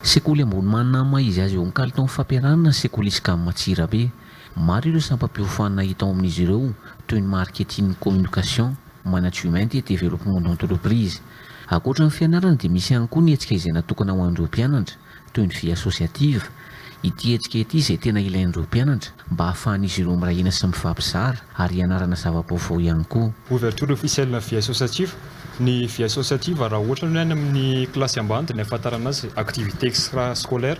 Sekoly ambony Mahanama izy azy eo amin'ny kalitaon'ny fampianarana ny sekoly Iscam Antsirabe. Maro ireo sampam-piofanana hita ao amin'izy ireo toy ny Marketing Communication, Management et Développement d'Entreprise. Ankoatra ny fianarana dia misy ihany koa ny hetsika izay natokana ho an'ireo mpianatra. toy ny Vie Associative, ity hetsika ity izay tena ilain'ireo mpianatra mba hahafahan'izy ireo miray hina sy mifampizara ary hianarana zava-baovao ihany koa. Ouverture officielle na Vie Associative, Ny Vie Associative raha ohatra ny any amin'ny kilasy ambany dia ny ahafantarana azy activité extra scolaire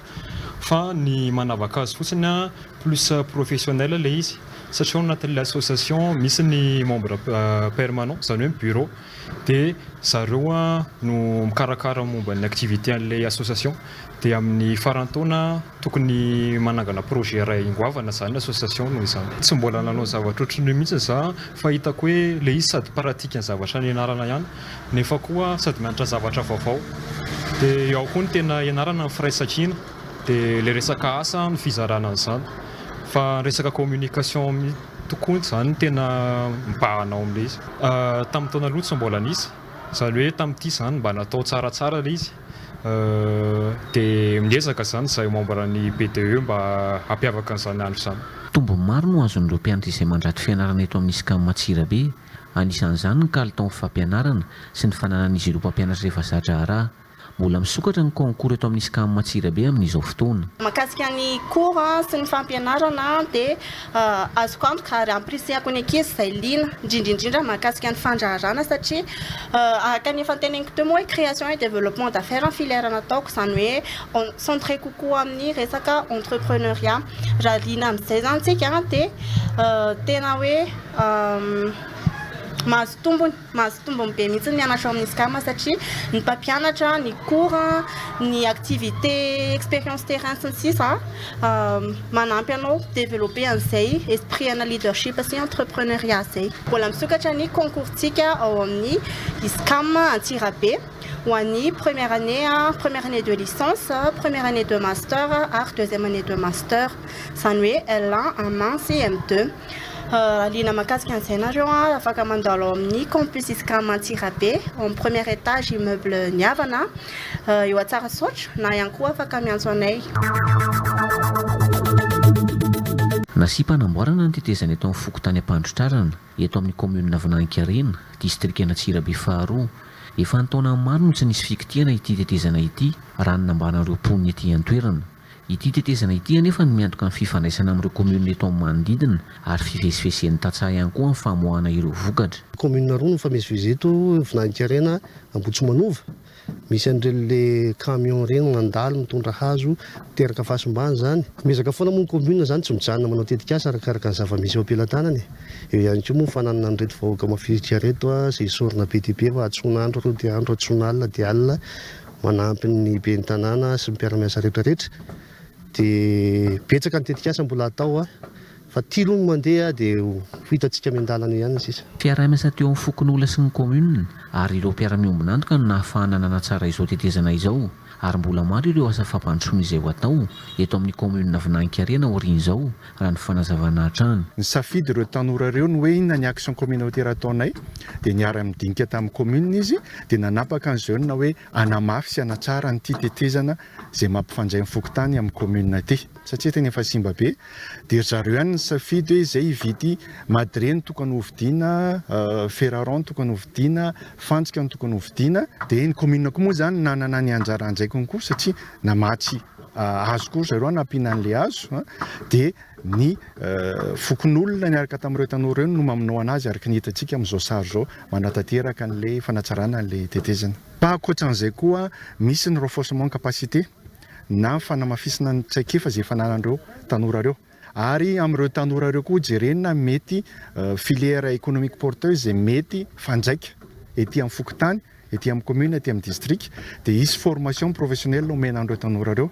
fa ny manavaka azy fotsiny plus professionnelle ilay izy satria ao anatin'ilay association misy ny membre permanent izany hoe ny bureau. dia zareo no mikarakara momba ny activité an'ilay association dia amin'ny faran'ny taona tokony manangana projet iray ingoavana zany ny association noho izany tsy mbola nanao zavatra ohatran'io mihitsy za fa hitako hoe ilay izy sady pratique ny zavatra nianarana ihany nefa koa sady mianatra zavatra vaovao dia eo ihany koa ny tena ianarana ny firaisankina dia ilay resaka asa ny fizarana an'izany fa ny resaka communication Tokoany izany tena mibahana ao amin'ilay izy. Tamin'ny taona aloha tsy mbola nisy, izany hoe tamin'ity izany mba natao tsaratsara ilay izy, dia miezaka izany izahay membre ny BDE mba hampiavaka an'izany andro izany. Tombony maro no azon'ireo mpianatra izay mandrato fianarana eto amin'ny Scam Antsirabe, anisan'izany ny kalitaon'ny fampianarana sy ny fananan'izy ireo mpampianatra efa za-draharaha. Mbola misokatra ny concours eto amin'ny Scam Antsirabe amin'izao fotoana. Mahakasika ny cours sy ny fampianarana dia azoko antoka ary ampirisiako ny ankizy izay liana, indrindra indrindra mahakasika ny fandraharana satria araka ny efa noteneniko teo moa hoe création et développement d'affaires ny filière nataoko izany hoe centré kokoa amin'ny resaka entrepreneuriat. Raha liana amin'izay izany isika dia tena hoe mahazo tombony. Mahazo tombony be mihitsy ny mianatra ao amin'ny SCAM satria ny mpampianatra, ny cours, ny activité, expérience terrain sy ny sisa manampy anao developper an'izay esprit ana leadership sy entrepreneuria izay. Mbola misokatra ny concours-tsika ao amin'ny SCAM Antsirabe ho an'ny première année, première année de licence, première année de master ary deuxième année de master, izany hoe L1, M1 sy M2. liana mahakasika an'izay nareo an, afaka mandalo ao amin'ny campus iscam antsirabe ao amin'ny premier étage immeuble ny havana eo antsarasaotra na ihany koa afaka miantso anay Nasipa hanamboarana ny tetezana eto amin'ny fokontany Ampandrotrarana, eto amin'ny kaominina Vinankarena, distrikan'Antsirabe faharoa. Efa an-taonany maro no tsy nisy fikitihana ity tetezana ity, raha ny nambaran'ireo mponina ety an-toerana. Ity tetezana ity anefa no miantoka ny fifandraisana amin'ireo kaominina eto amin'ny manodidina ary fivezivezen'ny tantsaha ihany koa amin'ny famoahana ireo vokatra. Kaominina roa no mifamezivezy eto, Vinahikarena, Ambohitsimanova. Misy an'ireny le camion ireny mandalo mitondra hazo, teraka fahasimbana izany. Miezaka foana moa ny kaominina izany, tsy mijanona manao tetikasa arakaraka ny zava-misy eo am-pelatanany e. Eo ihany koa moa ny fananana an'ireto vahoaka mafilotra ireto izay sorona be dia be mba hahatsoana andro dia andro, hahatsoana alina dia alina. manampy ny ben'ny tanàna sy ny mpiara-miasa rehetra rehetra dia betsaka ny tetikasa mbola atao a fa ity aloha no mandeha dia ho hitantsika miandalana ihany ny sisa. Mpiara-miasa teo amin'ny fokonolona sy ny kaominina ary ireo mpiara-miombon'antoka no nahafahana nanatsara izao tetezana izao ary mbola maro ireo asa fampandrosoana izay ho atao eto amin'ny kaominina Vinankarena aorian'izao raha ny fanazavana hatrany. Nisafidy ireo tanora ireo ny hoe inona ny action communautaire ataonay dia niara-nidinika tamin'ny commune izy dia nanapaka ny jeune hoe hanamafy sy hanatsara an'ity tetezana izay mampifandray ny fokontany amin'ny commune ity satria tena efa simba be dia ry zareo ihany nisafidy hoe izay hividy madrier no tokony hovidiana fer rond tokony hovidiana fantsika no tokony hovidiana dia ny commune koa moa izany nanana ny anjara andraikiny koa satria namatsy hazo koa ry zareo hanampiana an'ilay hazo dia ny fokonolona niaraka tamin'ireo tanora ireo no mamonoana azy araka ny hitantsika amin'izao sary izao manatanteraka an'ilay fanatsarana an'ilay tetezana. Fa ankoatran'izay koa misy ny renforcement capacité na fanamafisana ny traikefa izay efa ananan'ireo tanora ireo ary amin'ireo tanora ireo koa hojerena mety filière économique porteuse izay mety fanjaika ety amin'ny fokontany Ety amin'ny commune, ety amin'ny district dia hisy formation professionnelle omena an'ireo tanora ireo.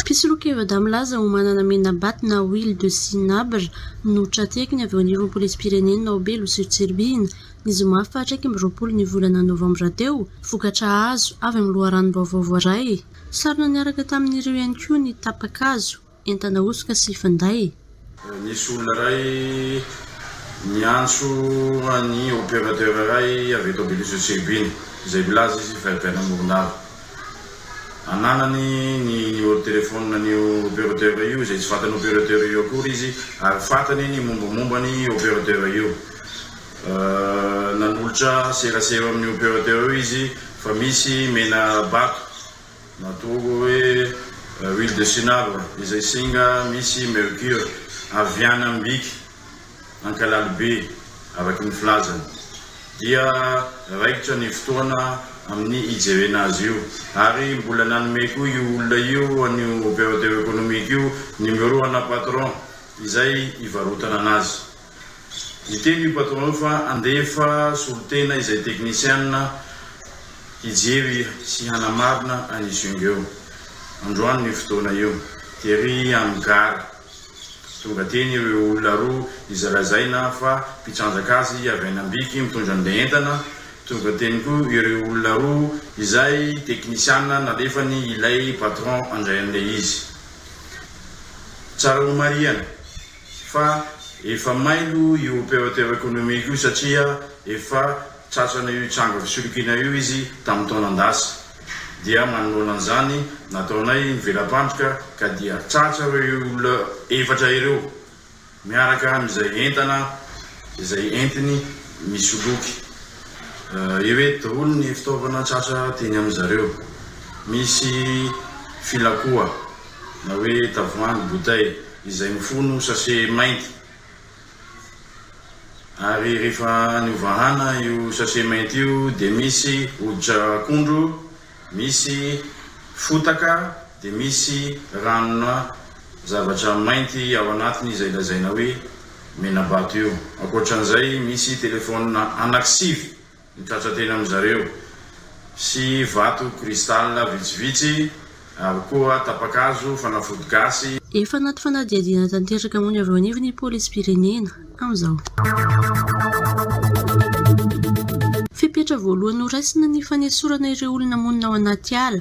Mpisoloky Vada milaza ho manana Menabat na huile de cinabre no tra-tehakiny avy eo anivon'ny Polisim-pirenena ao Belo sy Tsiribihina, ny zoma faha iraika amby roapolo ny volana novambra teo, vokatra azo avy amin'ny loharanom-baovao voaray. Sarona niaraka tamin'ireo ihany koa ny tapa-kazo. Entana hosoka sy finday. Misy olona iray miantso an'ny opérateur iray avy eto Abeloza Cherubine, izay milaza izy fa avy any Morondava. Ananany ny numéro de téléphone an'io opérateur io, izay tsy vatan'io opérateur io akory izy, ary fantany ny mombamomba ny opérateur io. Nanolotra serasera eo amin'io opérateur io izy fa misy mena bato. Natoa hoe huile de cinabre izay singa misy mercure avy any Ambiky, Ankalalibe, araka ny filazany, dia raikitra ny fotoana amin'ny hijerena azy io ary mbola nanome koa io olona io an'io opérateur économique io numéro ana patron izay hivarotana anazy. Niteny io patron io fa handefa solontena izay teknisiana hijery sy hanamarina an'i Jung eo. Androany io fotoana io, tery amin'ny gara, tonga teny ireo olona roa izay lazaina fa mpitrandraka azy avy any Ambiky mitondra an'ilay entana, tonga teny koa ireo olona roa izay teknisiana nalefany ilay patron handray an'ilay izy. Tsara homarihana fa efa mailo io opérateur économique io satria efa tratrana io tranga fisolokiana io izy tamin'ny taonan-dasa dia manoloana an'izany nataonay ny vela-pandrika ka dia tratra ireo olona efatra ireo miaraka amin'izay entana izay entiny misoloky ireto daholo ny fitaovana tratra teny amin'izareo misy filakoa na hoe tavoahangy, bouteille, izay mifono sachet mainty ary rehefa any ovahana io sachet mainty io dia misy hoditra akondro, misy fotaka dia misy ranona zavatra mainty ao anatiny izay lazaina hoe menabato io. Ankoatran'izay misy telephone anaky sivy. Mitratra teny amin-dry zareo. Sy vato cristal vitsivitsy, ary koa tapa-kazo, fanafody gasy. Efa anaty fanadihadiana tanteraka moa ny avy eo anivon'ny polisim-pirenena amin'izao. Fepetra voalohany noraisina ny fanesorana ireo olona monina ao anaty ala.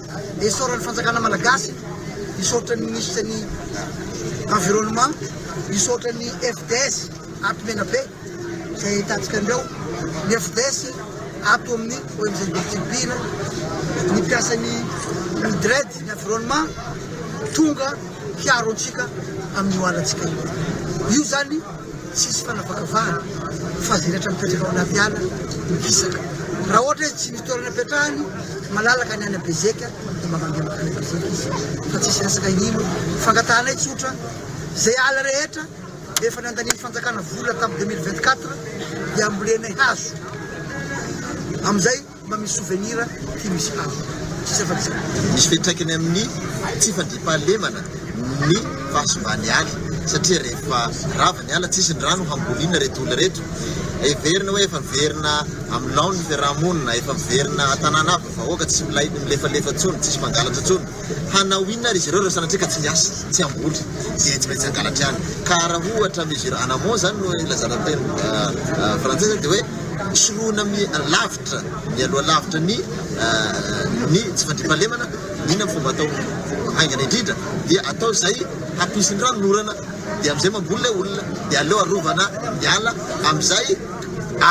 Dia isaoran'ny fanjakana malagasy, isaotra ny minisitra ny environnement, isaotra ny FDS ato Menabe izay ahitantsika anreo, ny FDS ato amin'ny ONG Didimpihina, ny mpiasan'ny Midred ny environnement tonga hiaro antsika amin'io alantsika io. Io zany. Tsisy fanavakavahana fa izay rehetra mipetraka ao anaty ala no hisaka. Raha ohatra izy tsy misy toerana hipetrahany, malalaka ny any Bezeka dia mba mandeha mankany Bezeka izy fa tsisy resaka inino. Fangatahanay tsotra, izay ala rehetra efa nandanian'ny fanjakana vola tamin'ny deux mille vingt-quatre dia ambolenay hazo amin'izay. Mba misy souvenir ty misy havana tsisy afa-tsy. Misy fiantraikany amin'ny tsy fandriampahalemana ny fahasimban'ny ala satria rehefa rava ny ala tsisy ny rano hamboliana ireto olona ireto. Heverina hoe efa miverina amin'ny laoniny ny fiaraha-monina, efa miverina an-tanàna aby ny vahoaka, tsy milay, tsy milefalefa intsony, tsisy mpangalatra intsony. Hanao inona ary izy ireo raha sanatria ka tsy miasa, tsy hamboly, dia tsy maintsy hangalatra ihany? Ka raha ohatra mesure en amont izany no ilazana teny frantsay izany dia hoe soloina lavitra, mialoha lavitra ny ny tsy fandriampahalemana, inona ny fomba atao haingana indrindra? Dia atao izay hampisy ny ranon'orana, dia amin'izay mamboly ilay olona, dia aleo arovana ny ala, amin'izay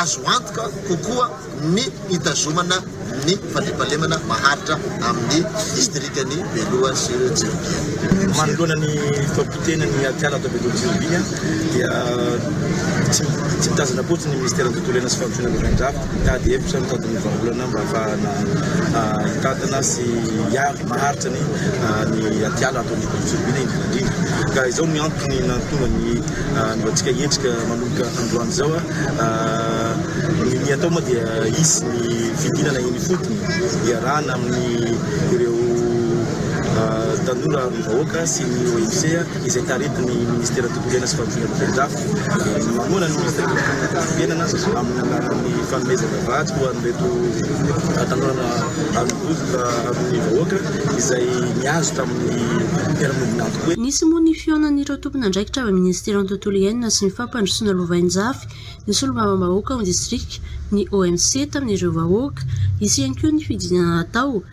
azo antoka kokoa. ny hitazomana ny fandriampahalemana maharitra amin'ny distrikan'i Beloha sy Tsirobiana. Manoloana ny fahapotehan'ny atiala ato Beloha Tsirobiana dia tsy tsy mitazana akory ny Minisiteran'ny Tontolo Iainana sy Fampandrosoana Vaovao-Drakotra mitady hevitra, mitady ny vahaolana mba hahafahana hitantana sy hiaro maharitra ny ny atiala ato amin'ny Beloha Tsirobiana indrindra indrindra. Ka izao ny antony nahatonga ny antsika hiatrika manomboka androany izao. Ny ny atao moa dia hisy ny fidinana eny ifotony hiarahana amin'ny ireo tanora amin'ny vahoaka sy ny OMC izay taritin'ny ministera tontolonena sy fampindramana velondafo. Mamoana ny ministera tontolonena sy fampindramana amin'ny alalan'ny fanomezana vatsy ho an'ireto tanora amin'ny bodoka amin'ny vahoaka izay nihazo tamin'ny mpiara-monina antoko hoe. Nisy moa ny fihaonan'ireo tompon'andraikitra avy amin'ny ministeran'ny tontolo iainana sy ny Fandrosoana lovainjafy ny solombavambahoaka ao distrika, ny OMC, tamin'ireo vahoaka. Hisy ihany koa ny fidinana natao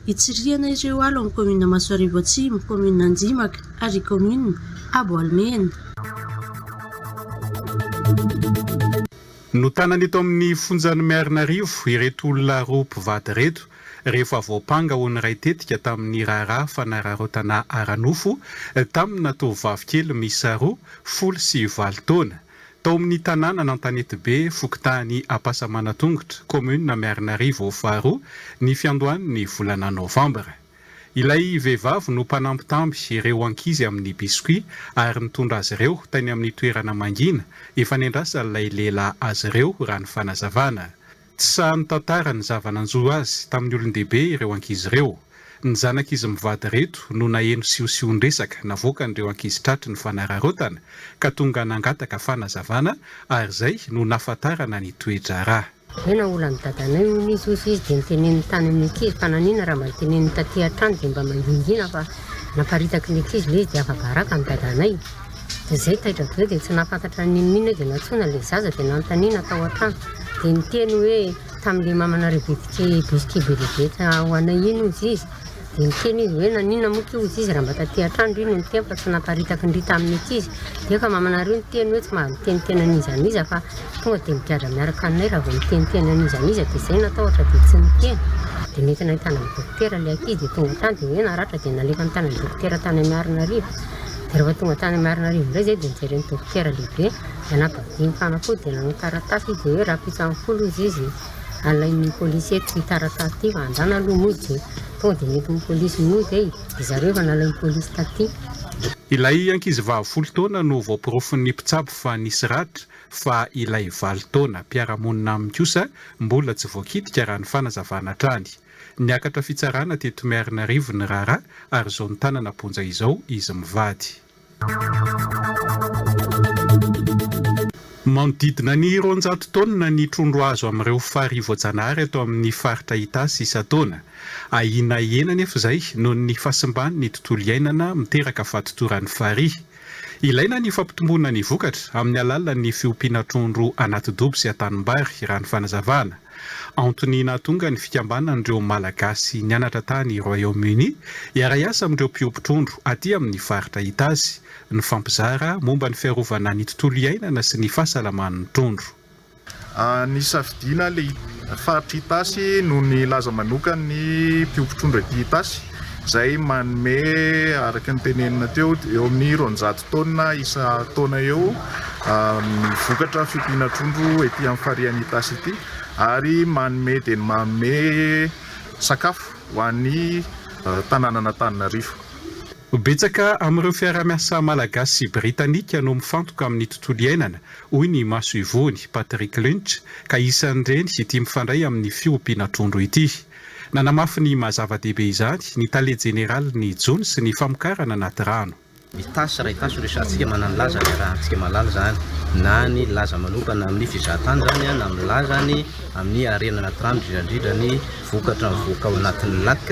hitsirihana ireo alo amin'ny kaominina Masoarivo Atsimo, kaominina Anjimaka ary kaominina Aboalimena. Notanana eto amin'ny fonjan'i Miarinarivo ireto olona roa mpivady ireto. rehefa voampanga ho niray tetika tamin'ny raharaha fanararaotana ara-nofo tamina tovovavy kely miisa roa, folo sy valo taona, tao amin'ny tanànan'Antanetibe, fokontany Ampasamanantongotra, kaominina Miarinarivo faharoa, ny fiandohan'ny volana novambra. Ilay vehivavy no mpanambitamby ireo ankizy amin'ny biscuits ary nitondra azy ireo tany amin'ny toerana mangina efa niandrasan'ilay lehilahy azy ireo, raha ny fanazavana. Tsy sahy nitantara ny zava-nanjo azy tamin'ny olon-dehibe ireo ankizy ireo. Ny zanak'izy mivady ireto no naheno siosion-dresaka navoakan'ireo ankizy tratry ny fanararaotana ka tonga nangataka fanazavana ary izay no nahafantarana ny toe-draharaha. Tena olan'ny dadanay hono izy hoy izy dia noteneniny tany amin'ny ankizy fa nanina raha mba noteneniny taty an-trano dia mba mangingina fa naparitaky ny ankizy ilay izy dia afa-baraka ny dadanay. dia izay taitra be dia tsy nahafantatra n'inon'inona hoe dia nantsoina ilay zaza dia nanontaniana tao an-trano dia niteny hoe tamin'ilay mamana Rebetike bisky be dia be ho anay iny hozy izy dia niteny izy hoe naninona moa ity hozy izy raha mba taty an-trano ry no niteny fa tsy naparitaky ny ry tamin'ny ankizy dia efa mamanareo niteny hoe tsy mahaviteniteny an'iza an'iza fa tonga dia migadra miaraka aminay raha vao miteniteny an'iza an'iza dia izay natahotra dia tsy niteny dia nentina hitana an'i dokotera ilay ankizy dia tonga tany dia hoe naratra dia nalefa nitana an'i dokotera tany Miarinarivo Rehefa tonga tany Marinarivo indray izay dia nojeren'ny dokotera lehibe anabavin' ny mpanafody dia nanao taratasy izy dia hoe rahampitso ambin'ny folo hozy izy alain'ny polisy eto ity taratasy ity fa andrana aloha mody e! Tonga dia nentin'ny polisy mody e! Dia zareo efa nalain'ny polisy taty. Ilay ankizivavy folo taona no voaporofon'ny mpitsabo fa nisy ratra fa ilay valo taona mpiara-monina aminy kosa mbola tsy voakitika raha ny fanazavana hatrany. Niakatra fitsarana teto Miarinarivo ny raharaha ary izao nitanana am-ponja izao izy mivady. Manodidina ny roanjato taonina ny trondro azo amin'ireo farihy voajanahary ato amin'ny faritra Itasy isan-taona. Ahiana hihena anefa izay noho ny fahasimban'ny tontolo iainana miteraka fahatotoran'ny farihy. Ilaina ny fampitomboana ny vokatra amin'ny alalan'ny fiompiana trondro anaty dobo sy an-tanimbary, raha ny fanazavana. Antony nahatonga ny fikambanan'ireo Malagasy nianatra tany Royaume-Uni hiara-hiasa amin'ireo mpiompy trondro aty amin'ny faritra Itasy, nifampizara momba ny fiarovana ny tontolo iainana sy ny fahasalaman'ny trondro. Nisafidiana ny faritr'i Itasy noho ny laza manokany ny mpiompy trondro ety Itasy izay manome araka ny tenenina teo eo amin'ny roanjato taonina isan-taona eo ny vokatra fiompiana trondro ety amin'ny farihan'i Itasy ity ary manome dia manome sakafo ho an'ny tanànan'Antananarivo. Betsaka amin'ireo fiaraha-miasa malagasy sy britanika no mifantoka amin'ny tontolo iainana hoy ny masoivohony Patrick Lynch, ka isan'ireny ity mifandray amin'ny fiompiana trondro ity. Nanamafy ny maha zava-dehibe izany ny tale jeneralin'ny jono sy ny famokarana anaty rano. Ny ttasy iray ttasy resahantsika mananilaza ny iarahantsika malala izany na ny laza manokana amin'ny fizahantany izany na milaza ny amin'ny harena anaty rano indrindraindrindra ny vokatra mivoaka ao anatin'ny lac,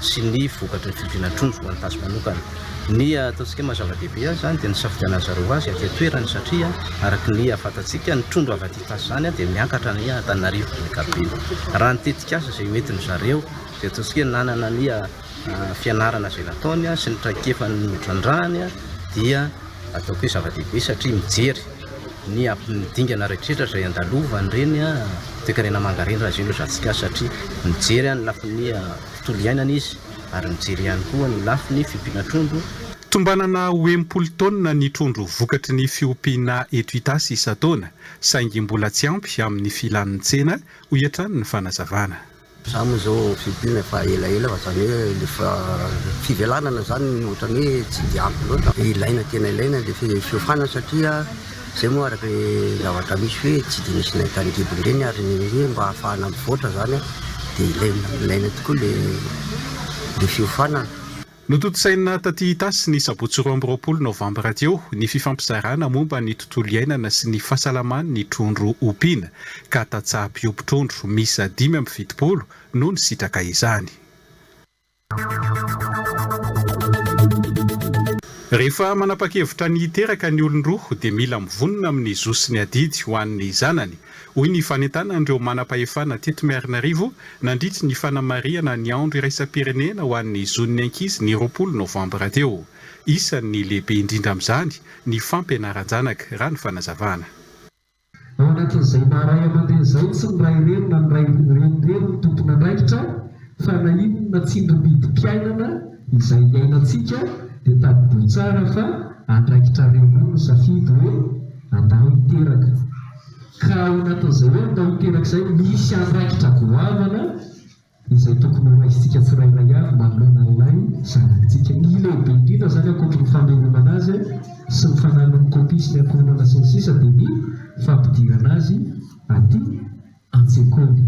sy ny vokatry ny fiodiana trondro ho an'ny tasy manokana. Ny ataontsika maha zava-dehibe azy izany dia ny nisafidianan'ny zareo ho azy aty an-toerana satria araka ny fantatsika ny trondro avy aty tasy izany dia miankatra any Antananarivo amin'ny ankapobeny. Raha ny tetikasa izay hoentin'ny zareo dia ataontsika hoe nanana ny fianarana izay nataony sy ny traikefany notrandrahany dia ataoko hoe zava-dehibe satria mijery ny amin'ny dingana rehetra izay andalovan'ireny toekarena manga ireny raha zéro Jasika satria mijery ny lafiny tontolo iainana izy ary mijery ihany koa ny lafiny fiompiana trondro. Tombanana ho enimpolo taonina ny trondro vokatry ny fiompiana eto Itasy isan-taona saingy mbola tsy ampy amin'ny filan'ny tsena, hoy hatrany ny fanazavana. Za moa zao fimpina efa ela ela fa zany hoe le fivelanana zany no otrany hoe tsy de ampy loatra fa ilaina tena ilaina le fiofanana satria zay moa araka ny zavatra misy hoe tsy de misy nainta ny gidiny reny ary ny hoe mba ahafahana mivoatra zany de ilaina ilaina tokoa le le fiofanana. Notontosaina taty Itasy ny sabotsy roa amby roapolo novambra teo ny fifampizarana momba ny tontolo iainana sy ny fahasalaman' ny trondro ompiana ka tantsaha mpiompy trondro miisa dimy amby fitopolo no nisitraka izany. Rehefa manapa-kevitra ny hiteraka ny olon-droa dia mila mivonona amin' ny zo sy ny adidy ho an' ny zanany hoy ny fanentanan'ireo manam-pahefana teto Miarinarivo nandritry ny fanamarihana ny andro iraisam-pirenena ho an'ny zon'ny ankizy ny roapolo novambra teo. Isan'ny lehibe indrindra amin'izany ny fampianaran-janaka, raha ny fanazavana. Anatrizay maha ray aman-dreny izay tsy ny ray reny na ny ray reny reny no tompon'andraikitra fa na inona tsindrimpidim-piainana izay iainantsika dia tadidio tsara fa andraikitrareo roa ny misafidy hoe Andaho teraka. Ka ao anatin'izay hoe andaho teraka izay, misy andraikitra goavana izay tokony horaisintsika tsirairay avy manoloana an'ilay zanak'tsika. Ny lehibe indrindra izany ankoatry ny famelomana azy sy ny fananany kopia sy ny ankohonana sy ny sisa dia ny fampidirana azy aty an-tsekoly.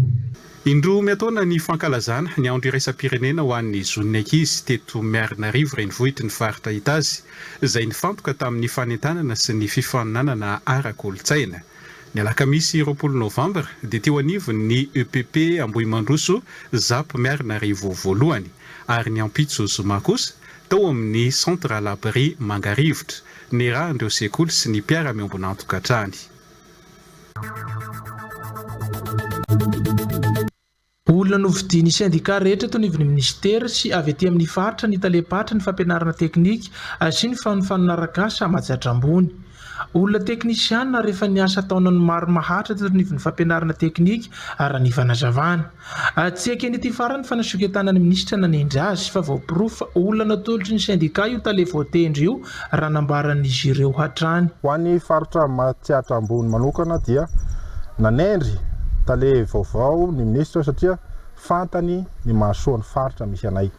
Indroa miantaona ny fankalazana ny andro iraisam-pirenena ho an'ny zon'ny ankizy teto Miarinarivo renivohitry ny faritra Itazy, izay nifantoka tamin'ny fanentanana sy ny fifaninanana ara-kolontsaina. Ny alakamisy roapolo novambra dia teo anivon'ny epp Ambohimandroso Zap Miarinarivo voalohany, ary ny ampitso zoma kosa tao amin'ny Centre à l'abri Mangarivotra, nirahan'ireo sekoly sy ny mpiara-miombon'antokantrany. Olona novidian'ny sendika rehetra eto anivon'ny minisitera sy avy ety amin'ny faritra ny talem-paritra ny fampianarana teknika sy ny fanonfanon'arak'asa Amajadra ambony. Olona teknisiana ary efa niasa taonany maro maharitra teto anivon'ny fampianarana teknika raha ny fanazavana. Tsy ekeny ity farany fa nasoketanan'ny minisitra nanendry azy fa voaporofo fa olana tolotry ny sendika io tale voatendry io raha nambaran'izy ireo hatrany. Ho an'ny faritra Matsiatra Ambony manokana dia nanendry tale vaovao ny minisitra satria fantany ny mahasoa ny faritra misy anay.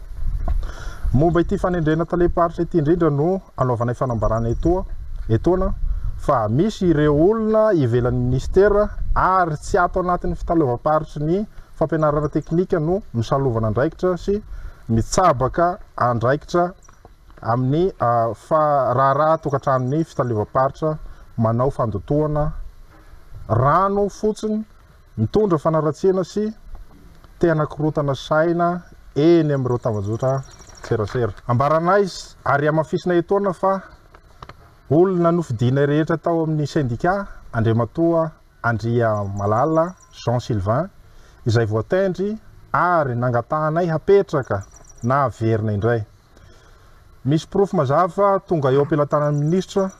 Momba ity fanendrena talem-paritra ity indrindra no anaovanay fanambarana etoa, etoana fa misy ireo olona ivelan'ny minisitera ary tsy ato anatin'ny fitaleovam-paritry ny fampianarana teknika no misalovana andraikitra sy mitsabaka andraikitra amin'ny raharaha tokantranon'ny fitaleovam-paritra manao fandotoana rano fotsiny Mitondra fanaratsiana sy te-hanakorontana saina eny amin'ireo tambajotran-tserasera. Ambaranay ary hamafisina etoana fa olona nofidianay rehetra tao amin'ny sendika Andriamatoa Andriamalala Jean Sylvain izay voatendry ary nangatahanay hapetraka na haverina indray. Misy porofo mazava tonga eo am-pelatanan'ny minisitra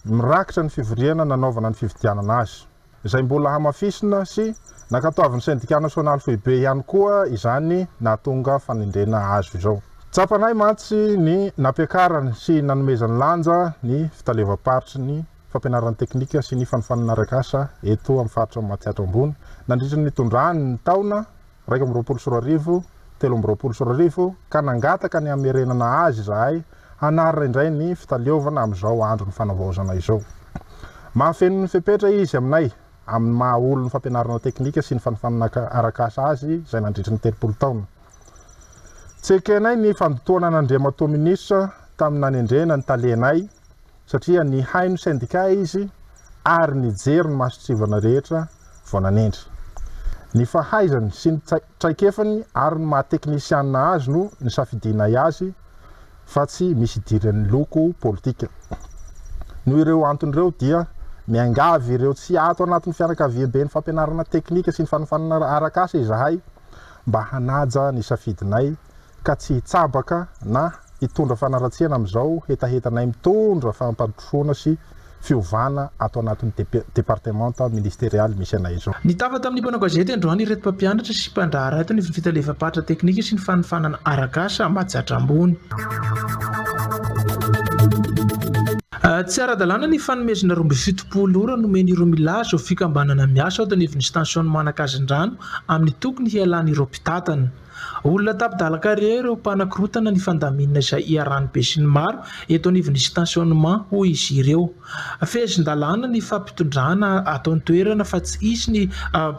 mirakitra ny fivoriana nanaovana ny fifidianana azy. izay mbola hamafisina sy nankatoavin'ny Sendika Nasionaly Foibe ihany koa izany nahatonga fanendrena azo izao. Tsapanay mantsy ny nampiakarany sy nanomezany lanja ny Fitaleovam-paritry ny Fampianarana Teknika sy ny Fanofanana Arak'asa eto amin'ny Faritra Matsiatra Ambony nandritra ny nitondrany ny taona iraika amby roapolo sy roa arivo, telo amby roapolo sy roa arivo, ka nangataka ny hamerenana azy izahay hanarina indray ny fitaleovana amin'izao andron'ny fanavaozana izao. Mahafeno ny fepetra izy aminay amin'ny maha olon'ny fampianarana teknika sy ny fanofanana arak'asa azy izay nandritry ny telopolo taona. Tsy ekenay ny fandotoana an'Andriamatoa Minisitra tamin'ny nanendrena ny talenay, satria nihaino sendika izy ary nijery ny mason-tsivana rehetra vao nanendry. Ny fahaizany sy ny traikefany ary ny maha-teknisianina azy no nisafidianay azy fa tsy misy idiran'ny loko politika. Noho ireo antony ireo dia miangavy ireo tsy ato anatin'ny fianakaviamben'ny fampianarana teknika sy ny fanofanana arak'asa izahay mba hanaja ny safidinay ka tsy hitsabaka na hitondra fanaratsiana amin'izao hetahetanay mitondra fampandrosoana sy fiovana ato anatin'ny departemanta ministerialy misy anay izao. Nitafa tamin'ny mpanao gazety androany ireto mpampianatra sy mpandraharaha eto ny Fitalefam-paritra Teknika sy ny Fanofanana Arak'asa Majaatra Ambony. Tsy ara-dalàna ny fanomezana roa amby fitopolo ora nomen'ireo milaza ho fikambanana miasa ao Tanivin'ny Stansion'ny Manakazin-drano amin'ny tokony hialan'ireo mpitantana. Olona tapi-dalaka re ireo mpanakorotana ny fandaminana izay iharan'ny besinimaro eto anivon'ny stationnement, hoy izy ireo. Fehezin-dalàna ny fampitondrana ato an-toerana fa tsy hisy ny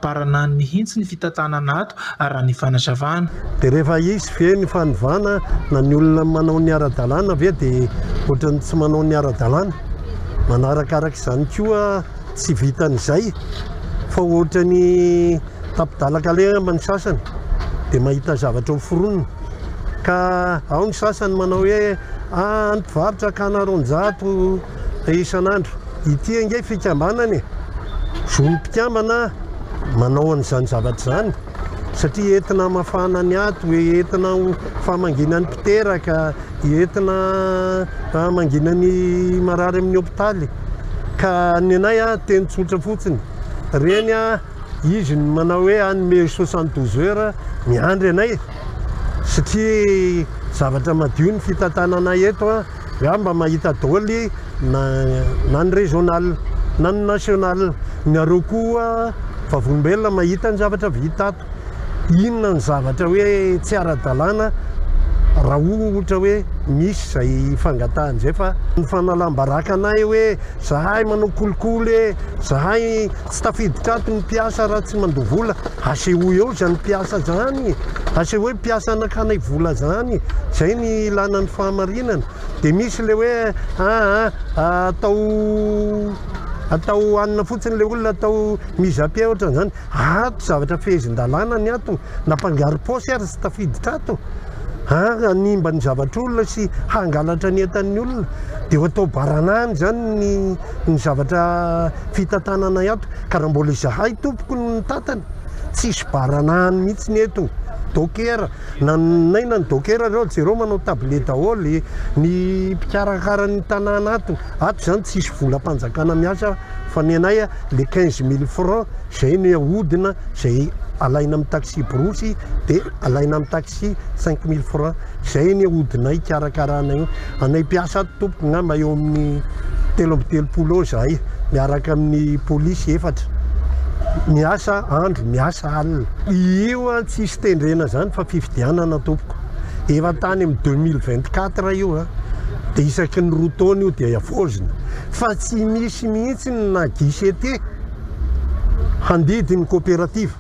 baranany mihitsy ny fitantanana ato, raha ny fanazavana. Dia rehefa hisy ve ny fanovana na ny olona manao ny ara-dalàna ve dia ohatran'ny tsy manao ny ara-dalàna? Manarakaraka izany koa Tsy vitan'izay fa ohatra ny tapidalaka lehamba ny sasany dia mahita zavatra ho foronina ka ao ny sasany manao hoe a any mpivarotra akana roanjato isan'andro ity ange fikambanana e! Zon'ny mpikambana manao an'izany zavatra izany satria entina hamafana ny aty, entina ho famangiana ny mpiteraka. entina mangina ny marary amin'ny hopitaly ka ny anay a teny tsotra fotsiny reny a izy ny manao hoe hanome soixante douze heures miandry anay satria zavatra madio ny fitantanana eto a za mba mahita dôly na na ny régional na ny national ny areo koa vavolombelona mahita ny zavatra vita ato Inona no zavatra hoe tsy ara-dalàna raha ohatra hoe misy izay fangatahana izay fa ny fanalam-baraka anay hoe zahay manao kolikoly e, zahay tsy tafiditra ato ny mpiasa raha tsy mandoa vola, asehoy eo izany mpiasa izany, asehoy mpiasa nakanay vola izany, izay ny ilàna ny fahamarinana. Dia misy ilay hoe aa atao atao hanina fotsiny ilay olona, atao mise à pied ohatran'izany. Ato zavatra fehezin-dalàna ny ato, na mpangarom-paosy ary tsy tafiditra ato ary hanimba ny zavatr'olona sy hangalatra ny entan'ny olona dia ho atao baranahiny izany ny ny zavatra fitantanana ato ka raha mbola izahay tompoko no nitantana tsisy baranahiny mihitsy ny eto dokera na naina ny dokera ireo jereo manao tabile daholo ny mpikarakara ny tanàna ato ato izany tsisy volam-panjakana miasa fa ny anay le quinze mille francs zay no ahodina zay alaina amin'ny taxi-brousse de alaina amin'ny taxi cinq mille francs zay ny ahodinay hikarakarana io anay mpiasa ato tompoko ngamba eo amin'ny telo amby telopolo eo zahay miaraka amin'ny polisy efatra miasa andro miasa alina io a tsisy tendrena zany fa fifidianana tompoko efa tany amin'ny deux mille vingt quatre io a de isaky ny roa taona io de havaozina Fa tsy misy mihitsy na guichet handidy ny coopérative.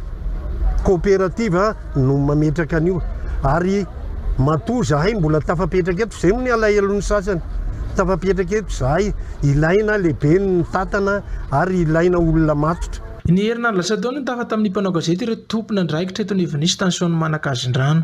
Coopérative no mametraka an'io. Ary matoa zahay mbola tafapetraka eto, zay moa ny alahelon'ny sasany. Tafapetraka eto zahay, ilaina lehibe ny mitantana ary ilaina olona matotra. Ny herinandro lasa teo no tafa tamin'ny mpanao gazety ireo tompon'andraikitra eto Nivon'Isy tany Soanimanakazin-drano.